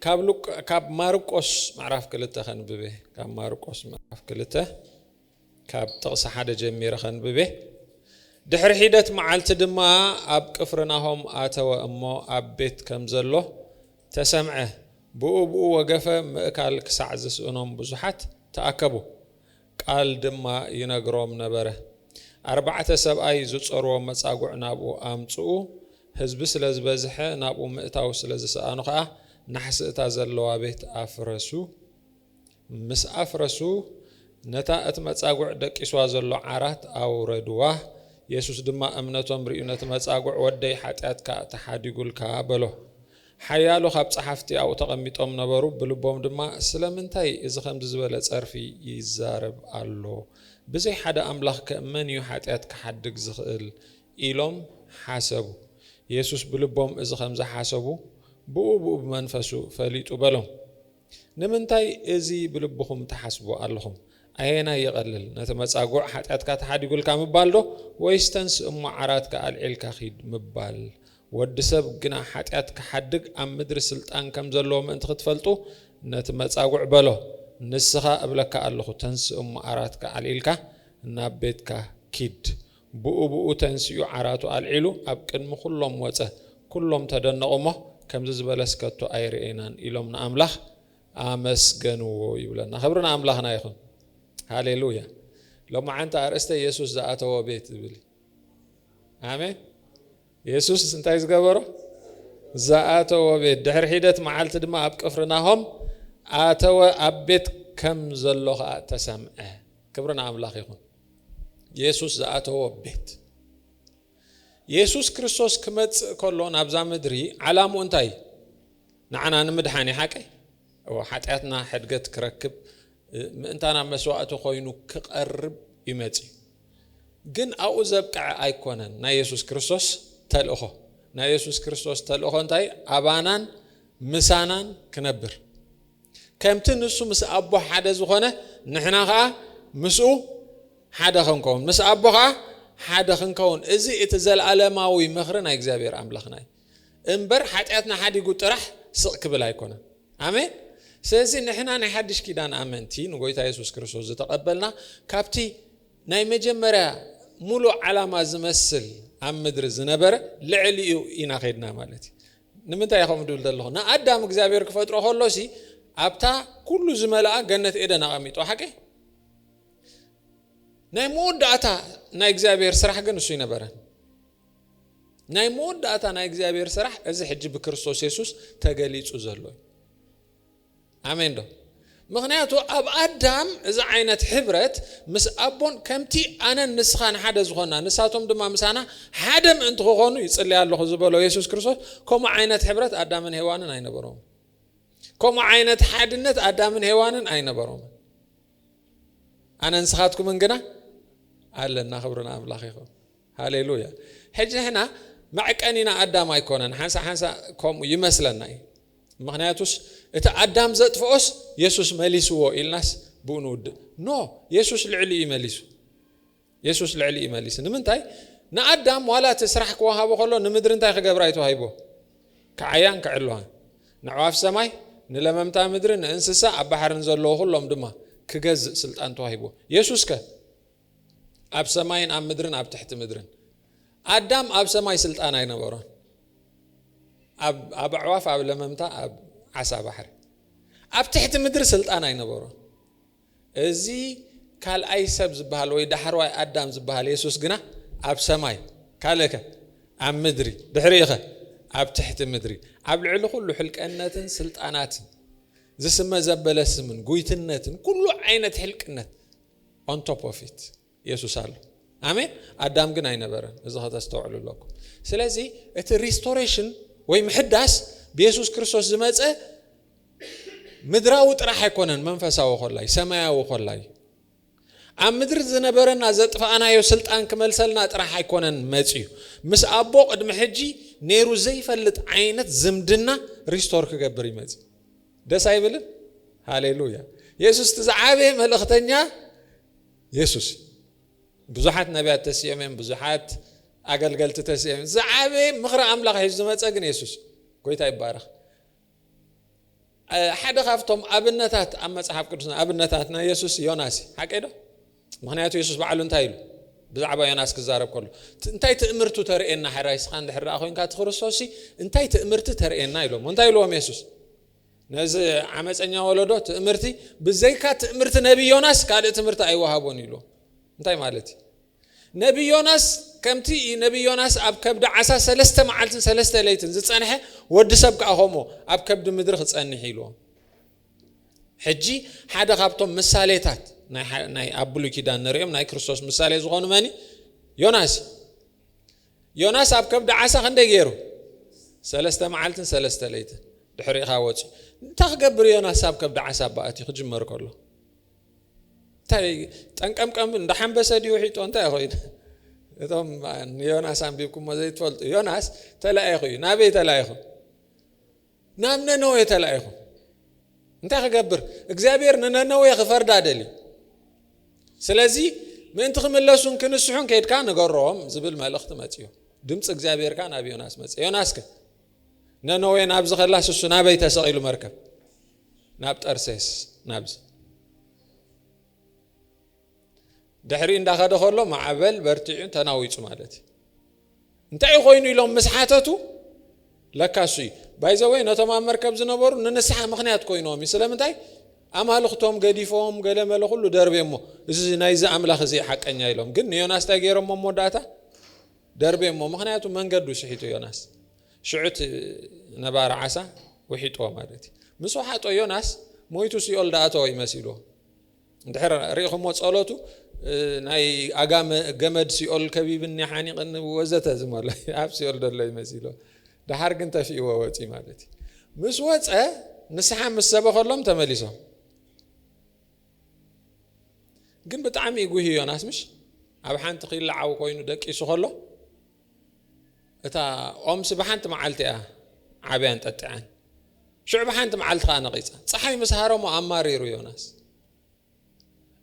ካብ ሉቃ ካብ ማርቆስ ምዕራፍ ክልተ ከንብብ እየ ካብ ማርቆስ ምዕራፍ ክልተ ካብ ጥቕሲ ሓደ ጀሚረ ከንብብ እየ ድሕሪ ሒደት መዓልቲ ድማ ኣብ ቅፍርናሆም ኣተወ እሞ ኣብ ቤት ከም ዘሎ ተሰምዐ ብኡ ብኡ ወገፈ ምእካል ክሳዕ ዝስእኖም ብዙሓት ተኣከቡ ቃል ድማ ይነግሮም ነበረ። ኣርባዕተ ሰብኣይ ዝጾርዎም መጻጉዕ ናብኡ ኣምጽኡ፣ ህዝቢ ስለ ዝበዝሐ ናብኡ ምእታው ስለ ዝሰኣኑ ከኣ ናሕሲ እታ ዘለዋ ቤት ኣፍረሱ። ምስ ኣፍረሱ ነታ እቲ መጻጉዕ ደቂስዋ ዘሎ ዓራት ኣውረድዋ። የሱስ ድማ እምነቶም ርእዩ ነቲ መጻጉዕ ወደይ ሓጢኣትካ ተሓዲጉልካ በሎ። ሓያሎ ካብ ጸሓፍቲ ኣብኡ ተቐሚጦም ነበሩ፣ ብልቦም ድማ፣ ስለምንታይ እዚ ኸምዚ ዝበለ ጸርፊ ይዛረብ ኣሎ? ብዘይ ሓደ ኣምላኽከ መን እዩ ሓጢኣት ኪሓድግ ዚኽእል? ኢሎም ሓሰቡ። የሱስ ብልቦም እዚ ኸም ዝሓሰቡ፣ ብኡብኡ ብመንፈሱ ፈሊጡ በሎም። ንምንታይ እዚ ብልብኹም ትሓስቡ ኣለኹም? ኣየናይ ይቐልል፣ ነቲ መጻጉዕ ሓጢኣትካ ተሓዲጉልካ ምባልዶ ወይስ ተንስ እሞ ዓራትካ ኣልዒልካ ኺድ ምባል? ወዲ ሰብ ግና ሓጢኣት ኪሓድግ ኣብ ምድሪ ስልጣን ከም ዘለዎ ምእንቲ ኽትፈልጡ፣ ነቲ መጻጉዕ በሎ፣ ንስኻ እብለካ ኣለኹ፣ ተንስ እሞ ዓራትካ ኣልዒልካ ናብ ቤትካ ኪድ። ብኡብኡ ተንሲኡ ዓራቱ ኣልዒሉ ኣብ ቅድሚ ኵሎም ወጸ። ኵሎም ተደነቑ እሞ፣ ከምዚ ዝበለስ ከቶ ኣይርኤናን ኢሎም ንኣምላኽ ኣመስገንዎ ይብለና። ክብሪ ንኣምላኽና ይኹን። ሃሌ ሉያ። ሎማዓንቲ ኣርእስተ የሱስ ዝኣተዎ ቤት ዝብል እዩ። ኣሜን። የሱስ እንታይ ዝገበሮ? ዝኣተዎ ቤት። ድሕሪ ሒደት መዓልቲ ድማ ኣብ ቅፍርናሆም ኣተወ፣ ኣብ ቤት ከም ዘሎ ኸኣ ተሰምዐ። ክብሪ ንኣምላኽ ይኹን። የሱስ ዝኣተዎ ቤት። የሱስ ክርስቶስ ክመጽእ ከሎ ናብዛ ምድሪ ዓላምኡ እንታይ እዩ? ንዓና ንምድሓን እዩ ሓቀይ እዎ ሓጢኣትና ሕድገት ክረክብ ምእንታና መስዋእቲ ኮይኑ ክቐርብ እዩ መጽዩ። ግን ኣብኡ ዘብቅዐ ኣይኮነን ናይ የሱስ ክርስቶስ ተልእኾ። ናይ የሱስ ክርስቶስ ተልእኾ እንታይ ኣባናን ምሳናን ክነብር ከምቲ ንሱ ምስ ኣቦ ሓደ ዝኾነ ንሕና ኸኣ ምስኡ ሓደ ክንከውን ምስ ኣቦ ኸኣ ሓደ ክንከውን እዚ እቲ ዘለኣለማዊ ምኽሪ ናይ እግዚኣብሔር ኣምላኽና እዩ እምበር ሓጢኣትና ሓዲጉ ጥራሕ ስቕ ክብል ኣይኮነን ኣሜን ስለዚ ንሕና ናይ ሓድሽ ኪዳን ኣመንቲ ንጎይታ የሱስ ክርስቶስ ዝተቐበልና ካብቲ ናይ መጀመርያ ሙሉእ ዓላማ ዝመስል ኣብ ምድሪ ዝነበረ ልዕሊኡ ኢና ኸድና ማለት እዩ ንምንታይ እየ ከምኡ ድብል ዘለኹ? ንኣዳም እግዚኣብሄር ክፈጥሮ ከሎሲ ኣብታ ኩሉ ዝመልኣ ገነት ኤደን ኣቐሚጥዋ ሓቂ? ናይ መወዳእታ ናይ እግዚኣብሄር ስራሕ ግን እሱ ኣይነበረን። ናይ መወዳእታ ናይ እግዚኣብሄር ስራሕ እዚ ሕጂ ብክርስቶስ የሱስ ተገሊጹ ዘሎ እዩ። ኣሜን ዶ ምኽንያቱ ኣብ ኣዳም እዚ ዓይነት ሕብረት ምስ ኣቦን ከምቲ ኣነን ንስኻን ሓደ ዝኾና ንሳቶም ድማ ምሳና ሓደ ምእንቲ ክኾኑ ይጽልይ ኣለኹ ዝበሎ የሱስ ክርስቶስ ከምኡ ዓይነት ሕብረት ኣዳምን ሄዋንን ኣይነበሮም ከምኡ ዓይነት ሓድነት ኣዳምን ሄዋንን ኣይነበሮም ኣነ ንስኻትኩምን ግና ኣለና ክብሪ ንኣምላኽ ይኹን ሃሌሉያ ሕጂ ንሕና መዕቀኒ ኢና ኣዳም ኣይኮነን ሓንሳ ሓንሳ ከምኡ ይመስለና እዩ ምክንያቱስ እቲ ኣዳም ዘጥፍኦስ የሱስ መሊስዎ ኢልናስ ብኡ ንውድእ ኖ የሱስ ልዕሊ እዩ መሊሱ የሱስ ልዕሊ እዩ መሊሱ ንምንታይ ንኣዳም ዋላ እቲ ስራሕ ክወሃቦ ከሎ ንምድሪ እንታይ ክገብራ እዩ ተዋሂቦ ክዓያን ክዕልዋን ንዕዋፍ ሰማይ ንለመምታ ምድሪ ንእንስሳ ኣብ ባሕርን ዘለዎ ኩሎም ድማ ክገዝእ ስልጣን ተዋሂቦ የሱስ ከ ኣብ ሰማይን ኣብ ምድርን ኣብ ትሕቲ ምድርን ኣዳም ኣብ ሰማይ ስልጣን ኣይነበሮን ኣብ ኣዕዋፍ ኣብ ለመምታ ኣብ ዓሳ ባሕሪ ኣብ ትሕቲ ምድሪ ስልጣን ኣይነበሮን እዚ ካልኣይ ሰብ ዝበሃል ወይ ዳሕርዋይ ኣዳም ዝበሃል የሱስ ግና ኣብ ሰማይ ካልእከ ኣብ ምድሪ ድሕሪኸ ኣብ ትሕቲ ምድሪ ኣብ ልዕሊ ኩሉ ሕልቀነትን ስልጣናትን ዝስመ ዘበለ ስምን ጉይትነትን ኩሉ ዓይነት ሕልቅነት ኦን ቶፕ ኦፍ ኢት የሱስ ኣሎ ኣሜን ኣዳም ግን ኣይነበረን እዚ ከተስተውዕሉ ኣለኩ ስለዚ እቲ ሪስቶሬሽን ወይ ምሕዳስ ብየሱስ ክርስቶስ ዝመፀ ምድራዊ ጥራሕ ኣይኮነን መንፈሳዊ ኮላይ ሰማያዊ ኮላይ ኣብ ምድሪ ዝነበረና ዘጥፋእናዮ ስልጣን ክመልሰልና ጥራሕ ኣይኮነን መፅዩ ምስ ኣቦ ቅድሚ ሕጂ ነይሩ ዘይፈልጥ ዓይነት ዝምድና ሪስቶር ክገብር ይመፅ ደስ ኣይብልን? ሃሌሉያ! የሱስ እቲ ዝዓበየ መልእኽተኛ የሱስ እዩ። ብዙሓት ነቢያት ተሲኦም እዮም፣ ብዙሓት ኣገልገልቲ ተሲኦም እዮም። ዝዓበየ ምኽሪ ኣምላኽ ሒዙ ዝመፀ ግን የሱስ እዩ። ጎይታ ይባረኽ። ሓደ ካብቶም ኣብነታት ኣብ መፅሓፍ ቅዱስና ኣብነታትና የሱስ ዮናስ እዩ። ሓቀይ ዶ? ምኽንያቱ የሱስ ባዕሉ እንታይ ኢሉ ብዛዕባ ዮናስ ክዛረብ ከሎ እንታይ ትእምርቱ ተርእየና ሕራይ ስኻ እንድሕር ደኣ ኮንካ እቲ ክርስቶስሲ እንታይ ትእምርቲ ተርእየና ኢሎሞ እንታይ ኢልዎም የሱስ ነዚ ዓመፀኛ ወለዶ ትእምርቲ ብዘይካ ትእምርቲ ነቢ ዮናስ ካልእ ትምህርቲ ኣይወሃቦን ኢልዎም እንታይ ማለት እዩ ነቢ ዮናስ ከምቲ ነቢ ዮናስ ኣብ ከብዲ ዓሳ ሰለስተ መዓልትን ሰለስተ ለይትን ዝፀንሐ ወዲ ሰብ ከዓ ከምኡ ኣብ ከብዲ ምድሪ ክፀንሕ ኢልዎም ሕጂ ሓደ ካብቶም ምሳሌታት ናይ ኣብ ብሉይ ኪዳን ንርእዮም ናይ ክርስቶስ ምሳሌ ዝኾኑ መን ዮናስ ዮናስ ኣብ ከብዲ ዓሳ ክንደይ ገይሩ ሰለስተ መዓልትን ሰለስተ ለይትን ድሕሪኻ ወፂ እንታይ ክገብር ዮናስ ኣብ ከብዲ ዓሳ በኣት እዩ ክጅመር ከሎ እንታይ ጠንቀምቀም እንዳሓንበሰ ድዩ ውሒጦ እንታይ ኮይኑ እቶም ንዮናስ ኣንቢብኩሞ ዘይትፈልጡ ዮናስ ተላኢኹ እዩ ናበይ ተላኢኹ ናብ ነነዌ ተላኢኹ። እንታይ ክገብር? እግዚኣብሔር ንነነዌ ክፈርዳ ደልዩ። ስለዚ ምእንቲ ክምለሱን ክንስሑን ከድካ ንገሮም ዝብል መልእኽቲ መፅዮ። ድምፂ እግዚኣብሔር ከ ናብ ዮናስ መፀ። ዮናስ ከ ነነዌ ናብ ዝኸላስ እሱ ናበይ ተሰቒሉ መርከብ ናብ ጠርሴስ ናብዚ ድሕሪ እንዳኸደ ከሎ ማዕበል በርቲዑን ተናዊጹ ማለት እዩ እንታይ እዩ ኮይኑ ኢሎም ምስ ሓተቱ ለካ እሱ እዩ ባይዘወይ ነቶም ኣብ መርከብ ዝነበሩ ንንስሓ ምክንያት ኮይኖም እዩ ስለምንታይ ኣማልኽቶም ገዲፎም ገለ መለ ኩሉ ደርቤ እሞ እዚ ናይዚ ኣምላኽ እዚ ሓቀኛ ኢሎም ግን ንዮናስ እንታይ ገይሮሞ መወዳእታ ደርቤ እሞ ምክንያቱ መንገዱ ስሒቱ ዮናስ ሽዑት ነባሪ ዓሳ ውሒጥዎ ማለት እዩ ምስ ውሓጦ ዮናስ ሞይቱ ሲኦል ዳኣተወ ይመሲልዎ እንድሕር ሪኢኹሞ ጸሎቱ ናይ ኣጋመ ገመድ ሲኦል ከቢብኒ ሓኒቕኒ ወዘተ ዝመሎ ኣብ ሲኦል ደሎ ይመሲሎ ድሓር ግን ተፊእዎ ወጺ ማለት እዩ ምስ ወፀ ንስሓ ምስ ሰበኸሎም ተመሊሶም ግን ብጣዕሚ ይጉሂ ዮናስ ምሽ ኣብ ሓንቲ ክይለዓው ኮይኑ ደቂሱ ከሎ እታ ኦምሲ ብሓንቲ መዓልቲ እያ ዓብያን ጠጢዓን ሽዑ ብሓንቲ መዓልቲ ከዓ ነቒፃ ፀሓይ ምስ ሃረሞ ኣማሪሩ ዮናስ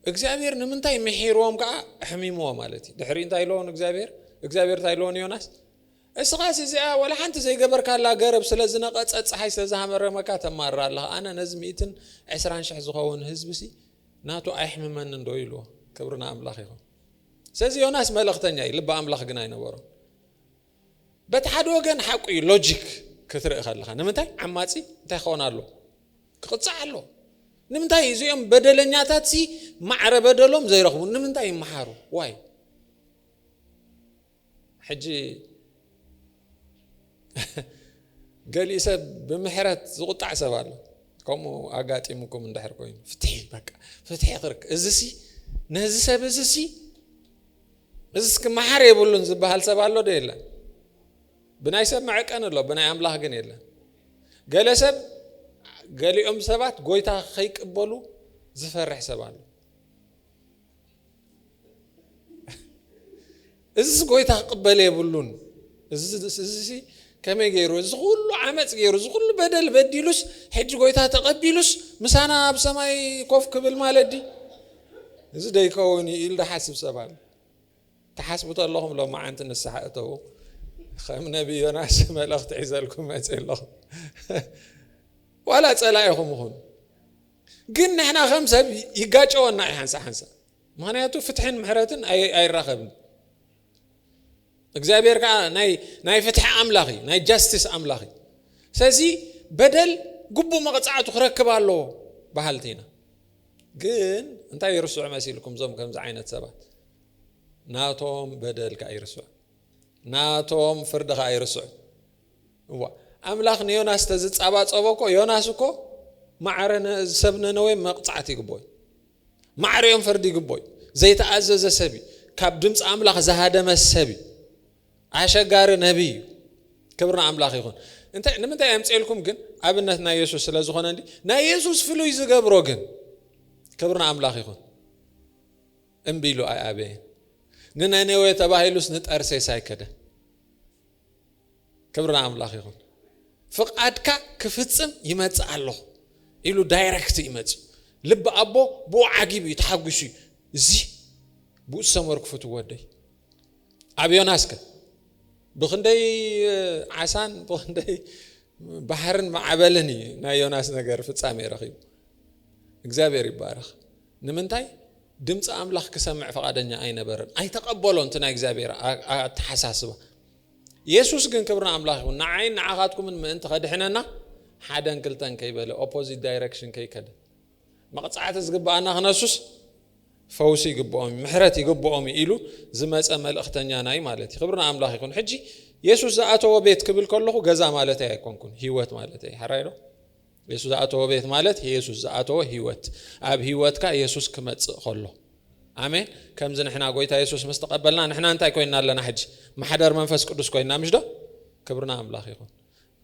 እግዚኣብሔር ንምንታይ ምሒርዎም ከዓ ሕሚምዎ ማለት እዩ ድሕሪ እንታይ ኢለዎ ንእግዚኣብሔር እግዚኣብሔር እንታይ ኢለዎ ንዮናስ እስኻስ እዚኣ ወላ ሓንቲ ዘይገበርካላ ገረብ ስለ ዝነቐፀ ፀሓይ ስለ ዝሃመረመካ ተማርር ኣለኻ ኣነ ነዚ ሚእትን ዕስራን ሽሕ ዝኸውን ህዝቢ ሲ ናቱ ኣይሕምመንን ዶ ኢልዎ ክብሪ ንኣምላኽ ይኹን ስለዚ ዮናስ መልእኽተኛ እዩ፣ ልቢ ኣምላኽ ግን ኣይነበሮን። በቲ ሓደ ወገን ሓቁ እዩ፣ ሎጂክ ክትርኢ ከለኻ ንምንታይ ዓማጺ እንታይ ክኾን ኣሎ ክቕጻዕ ኣሎ ንምንታይ እዚኦም በደለኛታት ሲ ማዕረ በደሎም ዘይረኽቡ ንምንታይ ይመሓሩ ዋይ ሕጂ ገሊኡ ሰብ ብምሕረት ዝቑጣዕ ሰብ ኣሎ ከምኡ ኣጋጢሙኩም እንድሕር ኮይኑ ፍትሒ በቃ ፍትሒ ክርክ እዚሲ ነዚ ሰብ እዚሲ እዚስ ክመሓር የብሉን ዝበሃል ሰብ ኣሎ ዶ የለን ብናይ ሰብ መዕቀን ኣሎ ብናይ ኣምላኽ ግን የለን ገለ ሰብ ገሊኦም ሰባት ጎይታ ከይቅበሉ ዝፈርሕ ሰብ ኣሎ እዚስ ጎይታ ክቕበል የብሉን እዚሲ ከመይ ገይሩ እዚ ኩሉ ዓመፅ ገይሩ እዚ ኩሉ በደል በዲሉስ ሕጂ ጎይታ ተቐቢሉስ ምሳና ኣብ ሰማይ ኮፍ ክብል ማለት ዲ እዚ ደይከውን እዩ ኢሉ ዝሓስብ ሰብ ኣሎ ትሓስቡ ተለኹም ሎማዓንቲ ንስሓ እተዉ ከም ነቢ ዮናስ መልእኽቲ ሒዘልኩም መፅእ ኣለኹም ዋላ ፀላኢኹም ይኹን ግን ንሕና ከም ሰብ ይጋጨወና እዩ ሓንሳ ሓንሳ ምክንያቱ ፍትሕን ምሕረትን ኣይራኸብን እግዚኣብሔር ከዓ ናይ ፍትሒ ኣምላኽ እዩ ናይ ጃስቲስ ኣምላኽ እዩ ስለዚ በደል ግቡእ መቕፃዕቱ ክረክብ ኣለዎ በሃልቲ ኢና ግን እንታይ ይርስዑ መሲልኩም እዞም ከምዚ ዓይነት ሰባት ናቶም በደል ከዓ ይርስዑ ናቶም ፍርዲ ከዓ ይርስዑ እዋ ኣምላኽ ንዮናስ ተዝጻባጸቦ እኮ ዮናስ እኮ ማዕረ ሰብ ነነዌ መቕጻዕቲ ይግቦ እዩ ማዕረ እዮም ፈርዲ ይግቦ እዩ ዘይተኣዘዘ ሰብ እዩ ካብ ድምፂ ኣምላኽ ዝሃደመ ሰብ እዩ ኣሸጋሪ ነቢይ እዩ ክብሪ ንኣምላኽ ይኹን እንታይ ንምንታይ ኣምፅኤልኩም ግን ኣብነት ናይ የሱስ ስለ ዝኾነ እንዲ ናይ የሱስ ፍሉይ ዝገብሮ ግን ክብሪ ንኣምላኽ ይኹን እምቢ ኢሉ ኣይኣበየን ንነነዌ ተባሂሉስ ንጠርሴስ ኣይከደን ክብሪ ንኣምላኽ ይኹን። ፍቓድካ ክፍጽም ይመጽእ ኣለኹ ኢሉ ዳይረክት እዩ መጺኡ። ልቢ ኣቦ ብኡ ዓጊቡ እዩ ተሓጒሱ እዩ። እዚ ብኡ ዝሰመርኩ ፍትው ወደይ ኣብ ዮናስከ ብክንደይ ዓሳን ብክንደይ ባሕርን ማዕበልን እዩ ናይ ዮናስ ነገር ፍጻሜ ረኺቡ። እግዚኣብሔር ይባረኽ። ንምንታይ? ድምጺ ኣምላኽ ክሰምዕ ፍቓደኛ ኣይነበረን። ኣይተቐበሎን እቲ ናይ እግዚኣብሔር ኣተሓሳስባ። የሱስ ግን ክብሪ ንኣምላኽ ይኹን ንዓይን ንዓኻትኩምን ምእንቲ ከድሕነና ሓደን ክልተን ከይበለ ኦፖዚት ዳይረክሽን ከይከደ መቕጻዕቲ ዝግብኣና ክነሱስ ፈውሲ ይግብኦም እዩ ምሕረት ይግብኦም እዩ ኢሉ ዝመፀ መልእኽተኛና እዩ ማለት እዩ ክብሪ ንኣምላኽ ይኹን ሕጂ የሱስ ዝኣተዎ ቤት ክብል ከለኹ ገዛ ማለት ኣይኮንኩን ህይወት ማለት እየ ሓራይ ዶ የሱስ ዝኣተዎ ቤት ማለት የሱስ ዝኣተዎ ህይወት ኣብ ህይወትካ የሱስ ክመጽእ ከሎ ኣሜን ከምዚ ንሕና ጎይታ የሱስ ምስ ተቐበልና ንሕና እንታይ ኮይና ኣለና ሕጂ ማሕደር መንፈስ ቅዱስ ኮይና ምሽ ዶ ክብርና ኣምላኽ ይኹን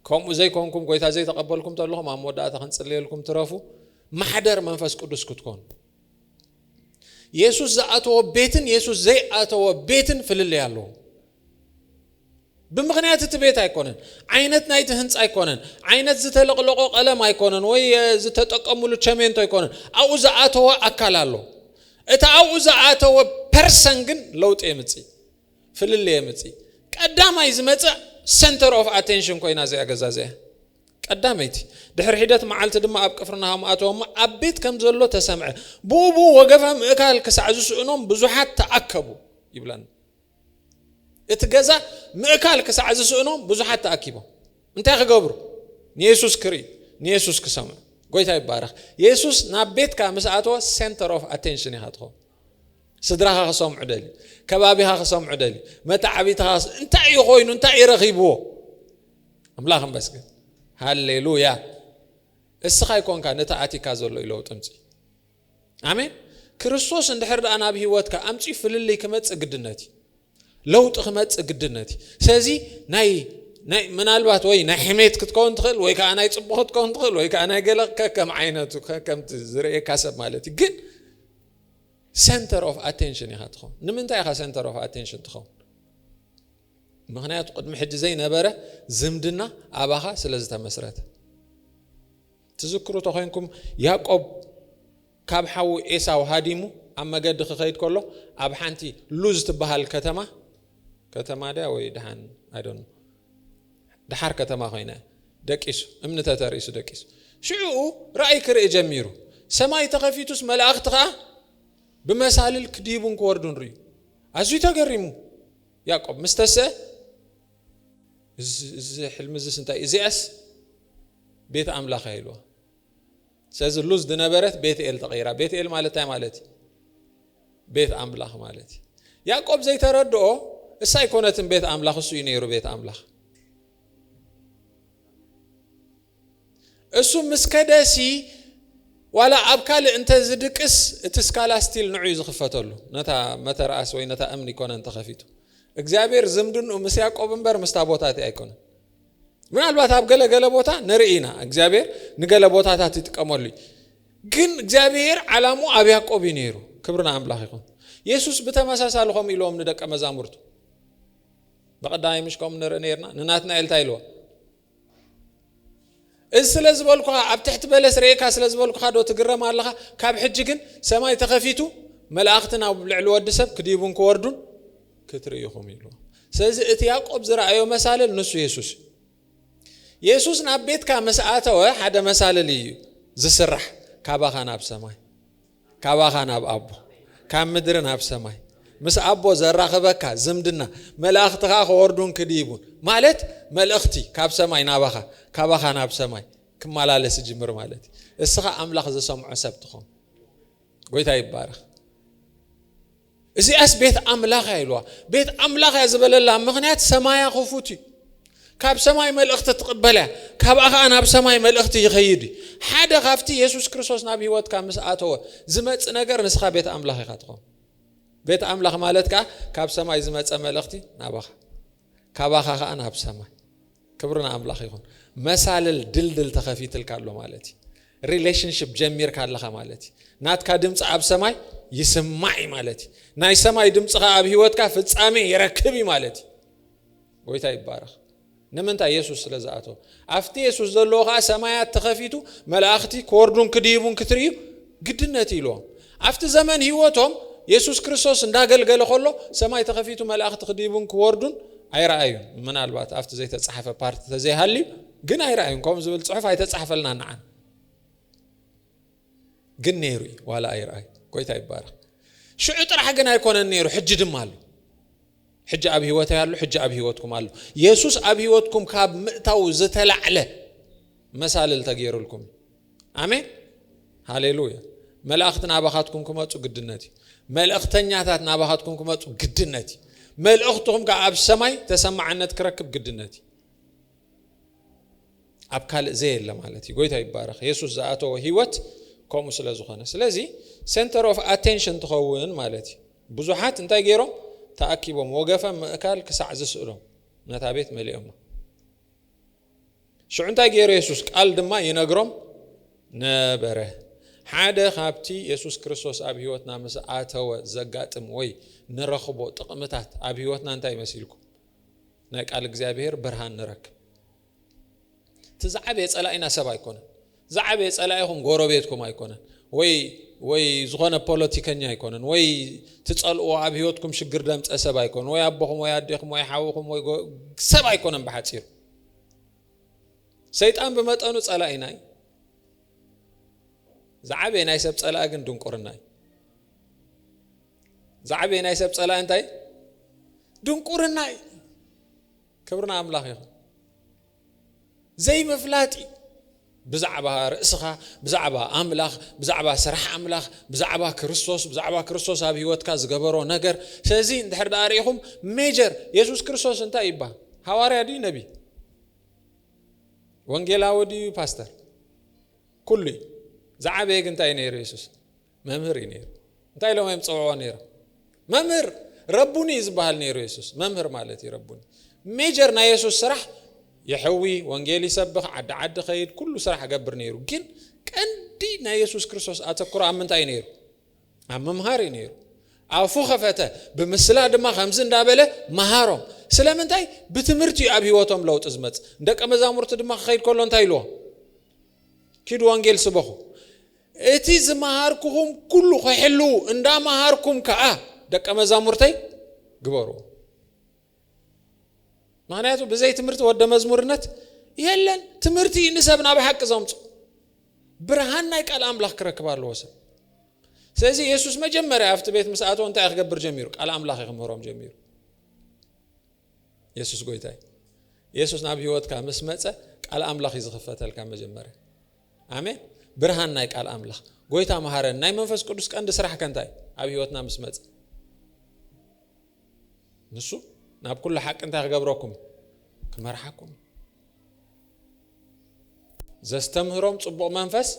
ከምኡ ዘይኮንኩም ጎይታ ዘይተቐበልኩም ተለኹም ኣብ መወዳእታ ክንጽልየልኩም ትረፉ ማሕደር መንፈስ ቅዱስ ክትኮኑ የሱስ ዝኣተዎ ቤትን የሱስ ዘይኣተዎ ቤትን ፍልልይ ኣለዎ ብምኽንያት እቲ ቤት ኣይኮነን፣ ዓይነት ናይቲ ህንጻ ኣይኮነን፣ ዓይነት ዝተለቕለቖ ቀለም ኣይኮነን፣ ወይ ዝተጠቀሙሉ ቸሜንቶ ኣይኮነን። ኣብኡ ዝኣተወ ኣካል ኣሎ። እቲ ኣብኡ ዝኣተወ ፐርሰን ግን ለውጢ የምጽእ፣ ፍልልይ የምጽእ። ቀዳማይ ዝመጽእ ሰንተር ኦፍ ኣቴንሽን ኮይና እዚኣ ገዛ እዚኣ ቀዳመይቲ ድሕሪ ሒደት መዓልቲ ድማ ኣብ ቅፍርናሆም ኣተወሞ ኣብ ቤት ከም ዘሎ ተሰምዐ ብኡ ብኡ ወገፈ ምእካል ክሳዕ ዝስእኖም ብዙሓት ተኣከቡ ይብለን እቲ ገዛ ምእካል ክሳዕ ዝስእኖም ብዙሓት ተኣኪቦም እንታይ ክገብሩ ንየሱስ ክርኢ ንየሱስ ክሰምዑ ጎይታ ይባረኽ የሱስ ናብ ቤትካ ምስ ኣተወ ሴንተር ኦፍ ኣቴንሽን ኢኻ ትኸውን ስድራኻ ክሰምዑ ደልዩ ከባቢኻ ክሰምዑ ደልዩ መታዓቢትኻ እንታይ እዩ ኮይኑ እንታይ እዩ ረኺብዎ ኣምላኽ መስገን ሃሌሉያ እስኻ ይኮንካ ነቲ ኣቲካ ዘሎ ይለውጥ ምፅ ኣሜን ክርስቶስ እንድሕር ደኣ ናብ ህይወትካ ኣምጺኡ ፍልልይ ክመጽእ ግድነት እዩ ለውጢ ክመጽእ ግድነት እዩ ስለዚ ናይ ናይ ምናልባት ወይ ናይ ሕሜት ክትከውን ትኽእል ወይ ከዓ ናይ ፅቡቅ ክትከውን ትኽእል ወይ ከዓ ናይ ገለ ከከም ዓይነቱ ከምቲ ዝርእየካ ሰብ ማለት እዩ ግን ሰንተር ኦፍ ኣቴንሽን ኢኻ ትኸውን ንምንታይ ኢኻ ሰንተር ኦፍ ኣቴንሽን ትኸውን ምክንያቱ ቅድሚ ሕጂ ዘይነበረ ዝምድና ኣባኻ ስለ ዝተመስረተ ትዝክሩ ተኾይንኩም ያቆብ ካብ ሓዉ ኤሳው ሃዲሙ ኣብ መገዲ ክኸይድ ከሎ ኣብ ሓንቲ ሉዝ ትበሃል ከተማ ከተማ ድያ ወይ ድሓን ኣይደኑ ድሓር ከተማ ኮይነ ደቂሱ እምኒ ተተርእሱ ደቂሱ ሽዑኡ ራእይ ክርኢ ጀሚሩ ሰማይ ተኸፊቱስ መላእኽቲ ከዓ ብመሳልል ክዲቡን ክወርዱን ርእዩ ኣዝዩ ተገሪሙ ያቆብ ምስተሰ እዚ ሕልሚ እዚስ እንታይ እዚኣስ ቤት ኣምላኽ እያ ኢልዋ ስለዚ ሉዝ ዝነበረት ቤት ኤል ተቐይራ ቤት ኤል ማለት እንታይ ማለት እዩ ቤት ኣምላኽ ማለት እዩ ያዕቆብ ዘይተረድኦ እሳ ኣይኮነትን ቤት ኣምላኽ እሱ እዩ ነይሩ ቤት ኣምላኽ እሱ ምስ ከደሲ ዋላ ኣብ ካልእ እንተ ዝድቅስ እቲ ስካላ ስቲል ንዑ እዩ ዝኽፈተሉ ነታ መተርኣስ ወይ ነታ እምኒ ኮነን ተኸፊቱ እግዚኣብሔር ዝምድንኡ ምስ ያዕቆብ እምበር ምስ ታቦታት ኣይኮነን ምናልባት ኣብ ገለገለ ቦታ ንርኢ ኢና እግዚኣብሔር ንገለ ቦታታት ይጥቀመሉ እዩ ግን እግዚኣብሔር ዓላሙ ኣብ ያዕቆብ እዩ ነይሩ ክብሪ ንኣምላኽ ይኹን የሱስ ብተመሳሳሊ ከምኡ ኢልዎም ንደቀ መዛሙርቱ ብቐዳማይ ምሽ ከምኡ ንርኢ ነርና ንናትናኤል እንታይ ኢልዎ እዚ ስለ ዝበልኩኻ ኣብ ትሕቲ በለስ ርኤካ ስለ ዝበልኩኻ ዶ ትግረም ኣለኻ? ካብ ሕጂ ግን ሰማይ ተኸፊቱ መላእኽቲ ናብ ልዕሊ ወዲ ሰብ ክዲቡን ክወርዱን ክትርኢ ኢኹም ኢልዎ። ስለዚ እቲ ያዕቆብ ዝረኣዮ መሳልል ንሱ የሱስ እዩ። የሱስ ናብ ቤትካ ምስ ኣተወ ሓደ መሳልል እዩ ዝስራሕ ካባኻ ናብ ሰማይ። ካባኻ ናብ ኣቦ ካብ ምድሪ ናብ ሰማይ ምስ ኣቦ ዘራኽበካ ዝምድና መላእኽቲ ኸኣ ክወርዱን ክድይቡን ማለት መልእኽቲ ካብ ሰማይ ናባኻ ካባኻ ናብ ሰማይ ክመላለስ ይጅምር ማለት እዩ። እስኻ ኣምላኽ ዝሰምዖ ሰብ ትኾን። ጎይታ ይባረኽ። እዚኣስ ቤት ኣምላኽ እያ ኢልዋ። ቤት ኣምላኽ እያ ዝበለላ ምኽንያት ሰማያ ክፉት እዩ። ካብ ሰማይ መልእኽቲ ትቕበል እያ። ካብኣ ኸኣ ናብ ሰማይ መልእኽቲ ይኸይድ እዩ። ሓደ ካብቲ የሱስ ክርስቶስ ናብ ህይወትካ ምስ ኣተወ ዝመጽእ ነገር ንስኻ ቤት ኣምላኽ ኢኻ ትኸውን። ቤት ኣምላኽ ማለት ከኣ ካብ ሰማይ ዝመጸ መልእኽቲ ናባኻ። ካባኻ ከኣ ናብ ሰማይ። ክብሪ ንኣምላኽ ይኹን። መሳልል ድልድል ተኸፊትልካ ኣሎ ማለት እዩ። ሪሌሽንሽፕ ጀሚርካ ኣለኻ ማለት እዩ። ናትካ ድምፂ ኣብ ሰማይ ይስማዕ እዩ ማለት እዩ። ናይ ሰማይ ድምፂ ከኣ ኣብ ህይወትካ ፍጻሜ ይረክብ እዩ ማለት እዩ። ጎይታ ይባረኽ። ንምንታይ የሱስ ስለ ዝኣተወ ኣብቲ የሱስ ዘለዎ ከዓ ሰማያት ተኸፊቱ መላእኽቲ ክወርዱን ክድይቡን ክትርእዩ ግድነት ኢልዎም ኣብቲ ዘመን ህይወቶም የሱስ ክርስቶስ እንዳገልገለ ከሎ ሰማይ ተኸፊቱ መላእኽቲ ክዲቡን ክወርዱን ኣይረኣዩን። ምናልባት ኣብቲ ዘይተጻሕፈ ፓርቲ ተዘይሃልዩ ግን ኣይረኣዩን። ከምኡ ዝብል ጽሑፍ ኣይተጻሕፈልና ንዓን ግን ነይሩ እዩ ዋላ ኣይረኣዩ። ጎይታ ይባረኽ። ሽዑ ጥራሕ ግን ኣይኮነን ነይሩ ሕጂ ድማ ኣሎ። ሕጂ ኣብ ህይወተይ ኣሎ፣ ሕጂ ኣብ ህይወትኩም ኣሎ። የሱስ ኣብ ህይወትኩም ካብ ምእታዉ ዝተላዕለ መሳልል ተገይሩልኩም እዩ። ኣሜን ሃሌሉያ። መላእኽቲ ናባኻትኩም ክመጹ ግድነት እዩ። መልእኽተኛታት ናባኻትኩም ክመጹ ግድነት እዩ። መልእኽትኹም ከኣ ኣብ ሰማይ ተሰማዕነት ክረክብ ግድነት እዩ። ኣብ ካልእ ዘየለ ማለት እዩ ጎይታ ይባረኽ የሱስ ዝኣተወ ህይወት ከምኡ ስለ ዝኾነ ስለዚ ሴንተር ኦፍ ኣቴንሽን ትኸውን ማለት እዩ ብዙሓት እንታይ ገይሮም ተኣኪቦም ወገፈ ምእካል ክሳዕ ዝስእሎም ነታ ቤት መሊኦማ። ሽዑ እንታይ ገይሩ የሱስ ቃል ድማ ይነግሮም ነበረ። ሓደ ካብቲ የሱስ ክርስቶስ ኣብ ህይወትና ምስ ኣተወ ዘጋጥም ወይ ንረኽቦ ጥቕምታት ኣብ ህይወትና እንታይ መሲልኩም ናይ ቃል እግዚኣብሄር ብርሃን ንረክብ። እቲ ዝዓበየ ጸላኢና ሰብ ኣይኮነን። ዝዓበየ ጸላኢኹም ጎረቤትኩም ኣይኮነን ወይ ወይ ዝኾነ ፖለቲከኛ ኣይኮነን ወይ ትጸልእዎ ኣብ ህይወትኩም ሽግር ደምጸ ሰብ ኣይኮነን ወይ ኣቦኹም ወይ ኣዴኹም ወይ ሓውኹም ወይ ሰብ ኣይኮነን ብሓጺሩ ሰይጣን ብመጠኑ ጸላኢና እዩ ዝዓበየ ናይ ሰብ ጸላኢ ግን ድንቁርና እዩ ዝዓበየ ናይ ሰብ ጸላኢ እንታይ ድንቁርና እዩ ክብሪ ንኣምላኽ ይኹን። ዘይምፍላጥ እዩ። ብዛዕባ ርእስኻ፣ ብዛዕባ ኣምላኽ፣ ብዛዕባ ስራሕ ኣምላኽ፣ ብዛዕባ ክርስቶስ፣ ብዛዕባ ክርስቶስ ኣብ ህይወትካ ዝገበሮ ነገር። ስለዚ እንድሕር ደኣ ርኢኹም ሜጀር የሱስ ክርስቶስ እንታይ እዩ ይበሃል? ሃዋርያ ድዩ ነቢ? ወንጌላዊ ድዩ ፓስተር? ኩሉ እዩ። ዝዓበየ ግን እንታይ እዩ ነይሩ የሱስ? መምህር እዩ ነይሩ እንታይ ኢሎም እዮም ፀውዕዎ ነይሮም መምህር ረቡኒ እዩ ዝበሃል ነይሩ የሱስ መምህር ማለት እዩ ረቡኒ ሜጀር ናይ የሱስ ስራሕ የሕዊ ወንጌል ይሰብኽ ዓዲ ዓዲ ኸይድ ኩሉ ስራሕ ገብር ነይሩ ግን ቀንዲ ናይ የሱስ ክርስቶስ ኣተክሮ ኣብ ምንታይ ነይሩ ኣብ ምምሃር እዩ ነይሩ ኣፉ ከፈተ ብምስላ ድማ ከምዚ እንዳበለ መሃሮም ስለምንታይ ብትምህርቲ እዩ ኣብ ሂወቶም ለውጢ ዝመፅ ደቂ መዛሙርቲ ድማ ክኸይድ ከሎ እንታይ ኢልዎ ኪዱ ወንጌል ስበኹ እቲ ዝመሃርኩኹም ኩሉ ኺሕልዉ፣ እንዳ መሃርኩም ከኣ ደቀ መዛሙርተይ ግበርዎ። ምኽንያቱ ብዘይ ትምህርቲ ወደ መዝሙርነት የለን። ትምህርቲ እዩ ንሰብ ናብ ሓቂ ዘምጽኦ። ብርሃን ናይ ቃል ኣምላኽ ክረክብ ኣለዎ ሰብ። ስለዚ የሱስ መጀመርያ ኣብቲ ቤት ምስ ኣተወ እንታይ ክገብር ጀሚሩ? ቃል ኣምላኽ እዩ ክምህሮም ጀሚሩ። የሱስ ጎይታ እዩ። የሱስ ናብ ህይወትካ ምስ መጸ ቃል ኣምላኽ እዩ ዝኽፈተልካ መጀመርያ። ኣሜን ብርሃን ናይ ቃል ኣምላኽ ጎይታ መሃረን ናይ መንፈስ ቅዱስ ቀንዲ ስራሕ ከንታይ ኣብ ህይወትና ምስ መጽ ንሱ ናብ ኩሉ ሓቂ እንታይ ክገብረኩም ክመርሓኩም ዘስተምህሮም ፅቡቕ መንፈስ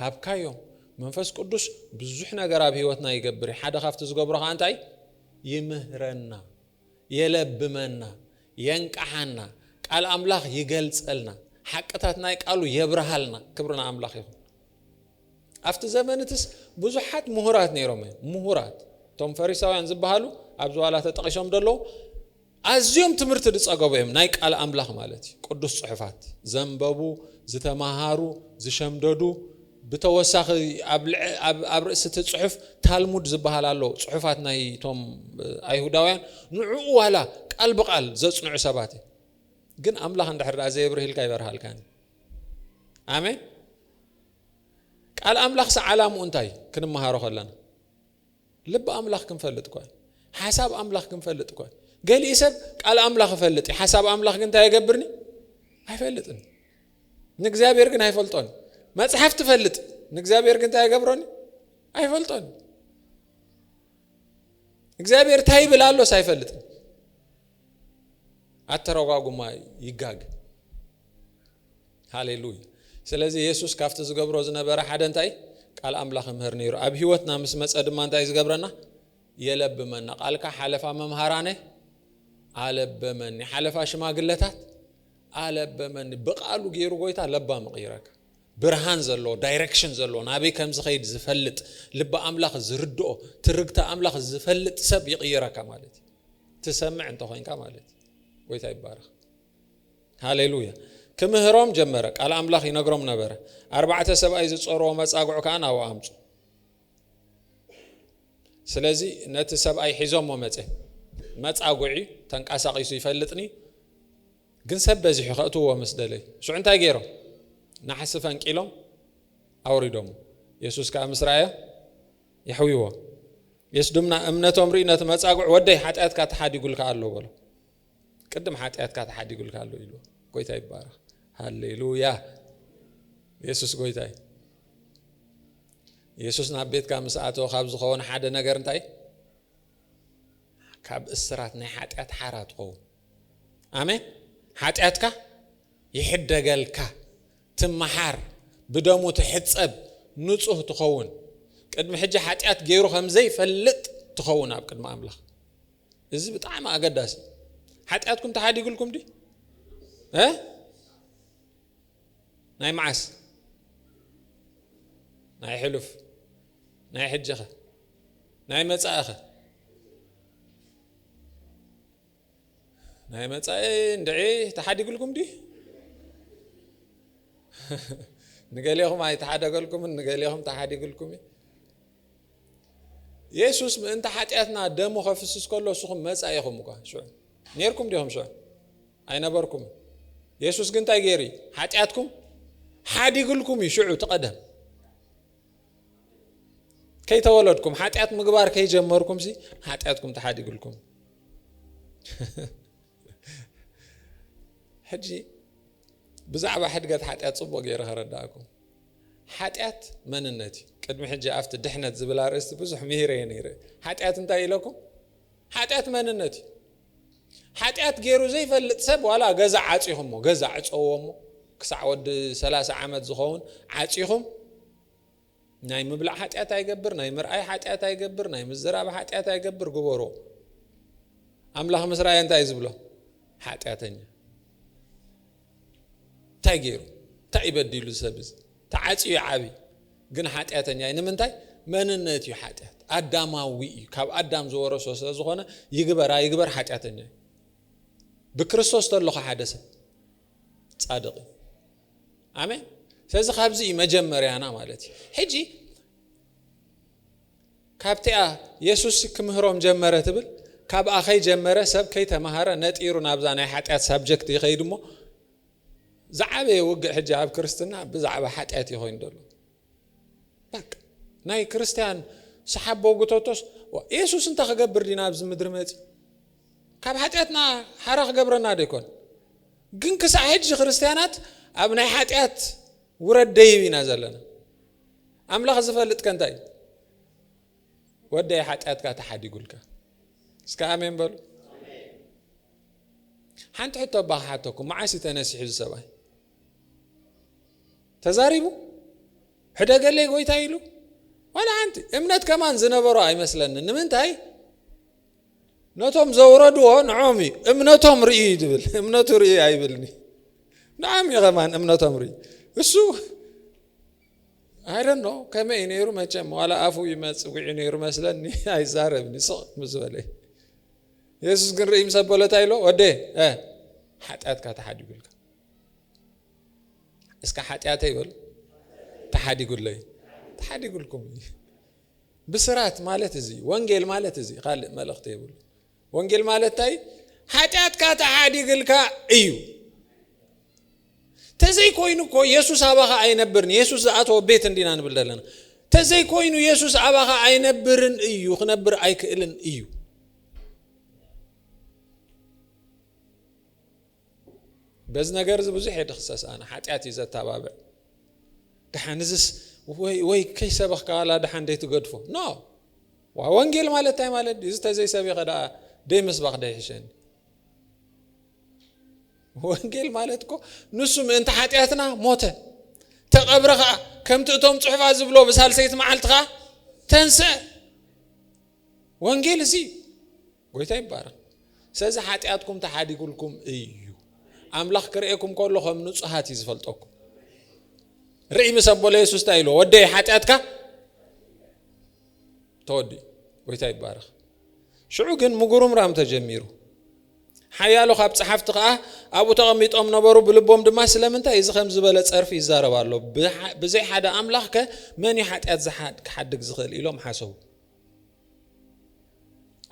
ሃብካዮም መንፈስ ቅዱስ ብዙሕ ነገር ኣብ ህይወትና ይገብር ሓደ ካብቲ ዝገብሮ ከዓ እንታይ ይምህረና የለብመና የንቃሓና ቃል ኣምላኽ ይገልጸልና ሓቅታት ናይ ቃሉ የብርሃልና ክብሪ ንኣምላኽ ይኹን ኣብቲ ዘመንትስ ብዙሓት ምሁራት ነይሮም እዮም ምሁራት እቶም ፈሪሳውያን ዝበሃሉ ኣብዚ ዋላ ተጠቒሶም ደለዉ ኣዝዮም ትምህርቲ ዝፀገቡ እዮም ናይ ቃል ኣምላኽ ማለት እዩ ቅዱስ ፅሑፋት ዘንበቡ ዝተምሃሩ ዝሸምደዱ ብተወሳኺ ኣብ ርእሲ እቲ ጽሑፍ ታልሙድ ዝበሃል ኣሎ፣ ጽሑፋት ናይ እቶም ኣይሁዳውያን፣ ንዕኡ ዋላ ቃል ብቓል ዘጽንዑ ሰባት እዮም። ግን ኣምላኽ እንድሕር ደኣ ዘየብርህልካ ይበርሃልካን እዩ። ኣሜን። ቃል ኣምላኽሲ ዓላምኡ እንታይ እዩ ክንመሃሮ ከለና? ልቢ ኣምላኽ ክንፈልጥ እኳ ሓሳብ ኣምላኽ ክንፈልጥ እኳ ገሊእ ሰብ ቃል ኣምላኽ እፈልጥ እዩ ሓሳብ ኣምላኽ ግን እንታይ የገብርኒ ኣይፈልጥን ንእግዚኣብሔር ግን ኣይፈልጦን መጽሓፍ ትፈልጥ ንእግዚኣብሔር ግን እንታይ የገብሮኒ ኣይፈልጦን እግዚኣብሔር እንታይ ይብል ኣሎስ ኣይፈልጥን ኣተረጓጉማ ይጋግ ሃሌሉያ ስለዚ የሱስ ካብቲ ዝገብሮ ዝነበረ ሓደ እንታይ ቃል ኣምላኽ ይምህር ነይሩ ኣብ ህይወትና ምስ መጸ ድማ እንታይ ዝገብረና የለብመና ቃልካ ሓለፋ መምሃራነ ኣለበመኒ ሓለፋ ሽማግለታት ኣለበመኒ ብቃሉ ገይሩ ጎይታ ለባ ምቕይረካ ብርሃን ዘለዎ ዳይረክሽን ዘለዎ ናበይ ከም ዝኸይድ ዝፈልጥ ልቢ ኣምላኽ ዝርድኦ ትርግቲ ኣምላኽ ዝፈልጥ ሰብ ይቕይረካ ማለት እዩ ትሰምዕ እንተኮይንካ ማለት እዩ ጎይታ ይባረኽ ሃሌሉያ! ኪምህሮም ጀመረ፣ ቃል ኣምላኽ ይነግሮም ነበረ፣ ኣርባዕተ ሰብኣይ ዝጾርዎ መጻጉዕ ከኣ ናብኡ ኣምጹ። ስለዚ ነቲ ሰብኣይ ሒዞሞ መጸ። መጻጉዒ ተንቃሳቂሱ ይፈልጥኒ ግን ሰብ በዚሑ ከእትዎ ምስ ደለዩ ሽዑ እንታይ ገይሮም ናሕሲ ፈንቂሎም ኣውሪዶም የሱስ ከዓ ምስ ረኣዮ የሕዊዎ የሱስ ድማ እምነቶም ርኢ ነቲ መጻጉዕ ወደይ ሓጢኣትካ ተሓዲጉልካ ኣሎ በሎ ቅድም ሓጢኣትካ ተሓዲጉልካ ኣሎ ኢልዎ ጎይታ ይባረኽ ሃሌሉያ የሱስ ጎይታ እዩ የሱስ ናብ ቤትካ ምስ ኣተወ ካብ ዝኸውን ሓደ ነገር እንታይ ካብ እስራት ናይ ሓጢኣት ሓራ ትኸውን ኣሜን ሓጢኣትካ ይሕደገልካ ትመሓር ብደሙ ትሕፀብ ንፁህ ትኸውን ቅድሚ ሕጂ ሓጢኣት ገይሩ ከም ዘይፈልጥ ትኸውን ኣብ ቅድሚ ኣምላኽ እዚ ብጣዕሚ ኣገዳሲ እዩ። ሓጢኣትኩም ተሓዲግልኩም ድዩ? ናይ መዓስ ናይ ሕሉፍ ናይ ሕጂኸ ናይ መጻእኸ ናይ መጻኢ እንድዒ ተሓዲግልኩም ድዩ ንገሌኹም ኣይተሓደገልኩምን ንገሌኹም ተሓዲግልኩም እዩ የሱስ ምእንቲ ሓጢኣትና ደሙ ከፍስስ ከሎ ንስኹም መጻኢ ኢኹም እኳ ሽዑ ነርኩም ዲኹም ሽዑ ኣይነበርኩም የሱስ ግን እንታይ ገይሩ እዩ ሓጢኣትኩም ሓዲግልኩም እዩ ሽዑ ትቐደም ከይተወለድኩም ሓጢኣት ምግባር ከይጀመርኩም ሲ ሓጢኣትኩም ተሓዲግልኩም ሕጂ ብዛዕባ ሕድገት ሓጢኣት ጽቡቕ ገይረ ከረድኣኩም። ሓጢኣት መንነት እዩ። ቅድሚ ሕጂ ኣብቲ ድሕነት ዝብል ኣርእስቲ ብዙሕ ምሂረ እየ ነይረ። ሓጢኣት እንታይ ኢለኩም? ሓጢኣት መንነት እዩ። ሓጢኣት ገይሩ ዘይፈልጥ ሰብ ዋላ ገዛ ዓጺኹሞ ገዛ ዕጸዎ እሞ ክሳዕ ወዲ ሰላሳ ዓመት ዝኸውን ዓጺኹም ናይ ምብላዕ ሓጢኣት ኣይገብር፣ ናይ ምርኣይ ሓጢኣት ኣይገብር፣ ናይ ምዝራብ ሓጢኣት ኣይገብር፣ ግበሮ። ኣምላኽ ምስ ረኣየ እንታይ እዩ ዝብሎ? ሓጢኣተኛ እንታይ ገይሩ እንታይ እዩ በዲሉ ሰብ እዚ ተዓፅዩ ዓብዪ ግን ሓጢኣተኛ እዩ። ንምንታይ? መንነት እዩ ሓጢኣት፣ ኣዳማዊ እዩ። ካብ ኣዳም ዝወረሶ ስለ ዝኾነ ይግበር ኣይግበር ሓጢኣተኛ እዩ። ብክርስቶስ ተለኹ ሓደ ሰብ ጻድቕ እዩ። ኣሜን ስለዚ ካብዚ እዩ መጀመርያና ማለት እዩ ሕጂ ካብቲኣ የሱስ ክምህሮም ጀመረ ትብል ካብኣ ከይጀመረ ሰብ ከይተማሃረ ነጢሩ ናብዛ ናይ ሓጢኣት ሳብጀክት ይኸይድ እሞ ዝዓበየ ውግእ ሕጂ ኣብ ክርስትና ብዛዕባ ሓጢኣት እዩ ኮይኑ ደሎ በቃ ናይ ክርስትያን ሰሓቦ ጉተቶስ የሱስ እንታይ ክገብር ድዩ ናብዚ ምድሪ መጺኡ ካብ ሓጢኣትና ሓራ ክገብረና ዶ ይኮን ግን ክሳዕ ሕጂ ክርስትያናት ኣብ ናይ ሓጢኣት ውረድ ደይብ ኢና ዘለና ኣምላኽ ዝፈልጥ ከንታይ እዩ ወደይ ሓጢኣትካ ተሓዲጉልካ እስከ ኣሜን በሉ ሓንቲ ሕቶ ኣባ ክሓተኩም መዓስ እዩ ተነሲሑ ዝሰብኣይ ተዛሪቡ ሕደገለይ ጎይታ ኢሉ ዋላ ሓንቲ እምነት ከማን ዝነበሮ ኣይመስለኒ ንምንታይ ነቶም ዘውረድዎ ንዖም እዩ እምነቶም ርእዩ እዩ ዝብል እምነቱ ርእዩ ኣይብልኒ ንዓም እዩ ከማን እምነቶም ርእዩ እሱ ኣይደኖ ከመይ እዩ ነይሩ መቸም ዋላ ኣፉ ይመፅዊዑ ነይሩ መስለኒ ኣይዛረብኒ ስቕ ምስ በለ የሱስ ግን ርእይ ምስ ኣበሎ እንታይ ኢሎ ወደ ሓጢኣትካ ተሓዲጉልካ እስከ ሓጢኣተይ በሉ ተሓዲጉለይ ተሓዲጉልኩም እዩ ብስራት ማለት እዚ ወንጌል ማለት እዚ ካልእ መልእኽቲ የብሉ ወንጌል ማለት እንታይ ሓጢኣትካ ተሓዲግልካ እዩ ተዘይኮይኑ እኮ የሱስ ኣባኻ ኣይነብርን የሱስ ዝኣተወ ቤት እንዲና ንብል ዘለና ተዘይኮይኑ የሱስ ኣባኻ ኣይነብርን እዩ ክነብር ኣይክእልን እዩ በዚ ነገር እዚ ብዙሕ እየ ድኽሰስ ኣነ ሓጢኣት እዩ ዘተባብዕ ድሓን እዚስ ወይ ከይሰበኽካ ዋላ ድሓን ደይትገድፎ ኖ ዋ ወንጌል ማለት እንታይ ማለት እዚ ተዘይሰቢኸ ደኣ ደይምስባኽ ደይሕሸኒ ወንጌል ማለት እኮ ንሱ ምእንቲ ሓጢኣትና ሞተ ተቐብረ ከዓ ከምቲ እቶም ፅሑፋት ዝብሎ ብሳልሰይቲ መዓልቲ ከዓ ተንስአ ወንጌል እዚ እዩ ጎይታ ይባረኽ ሰለዚ ሓጢኣትኩም ተሓዲጉልኩም እዩ ኣምላኽ ክርእየኩም ከሎ ከም ንጹሃት እዩ ዝፈልጠኩም ርእይ ምስ ኣቦለ የሱስ እንታይ ኢልዎ ወደይ ሓጢኣትካ ተወዲ ጎይታ ይባረኽ ሽዑ ግን ምጉርምራም ተጀሚሩ ሓያሎ ካብ ፀሓፍቲ ከዓ ኣብኡ ተቐሚጦም ነበሩ ብልቦም ድማ ስለምንታይ እዚ ከም ዝበለ ፀርፊ ይዛረብ ኣሎ ብዘይ ሓደ ኣምላኽ ከ መን እዩ ሓጢኣት ክሓድግ ዝኽእል ኢሎም ሓሰቡ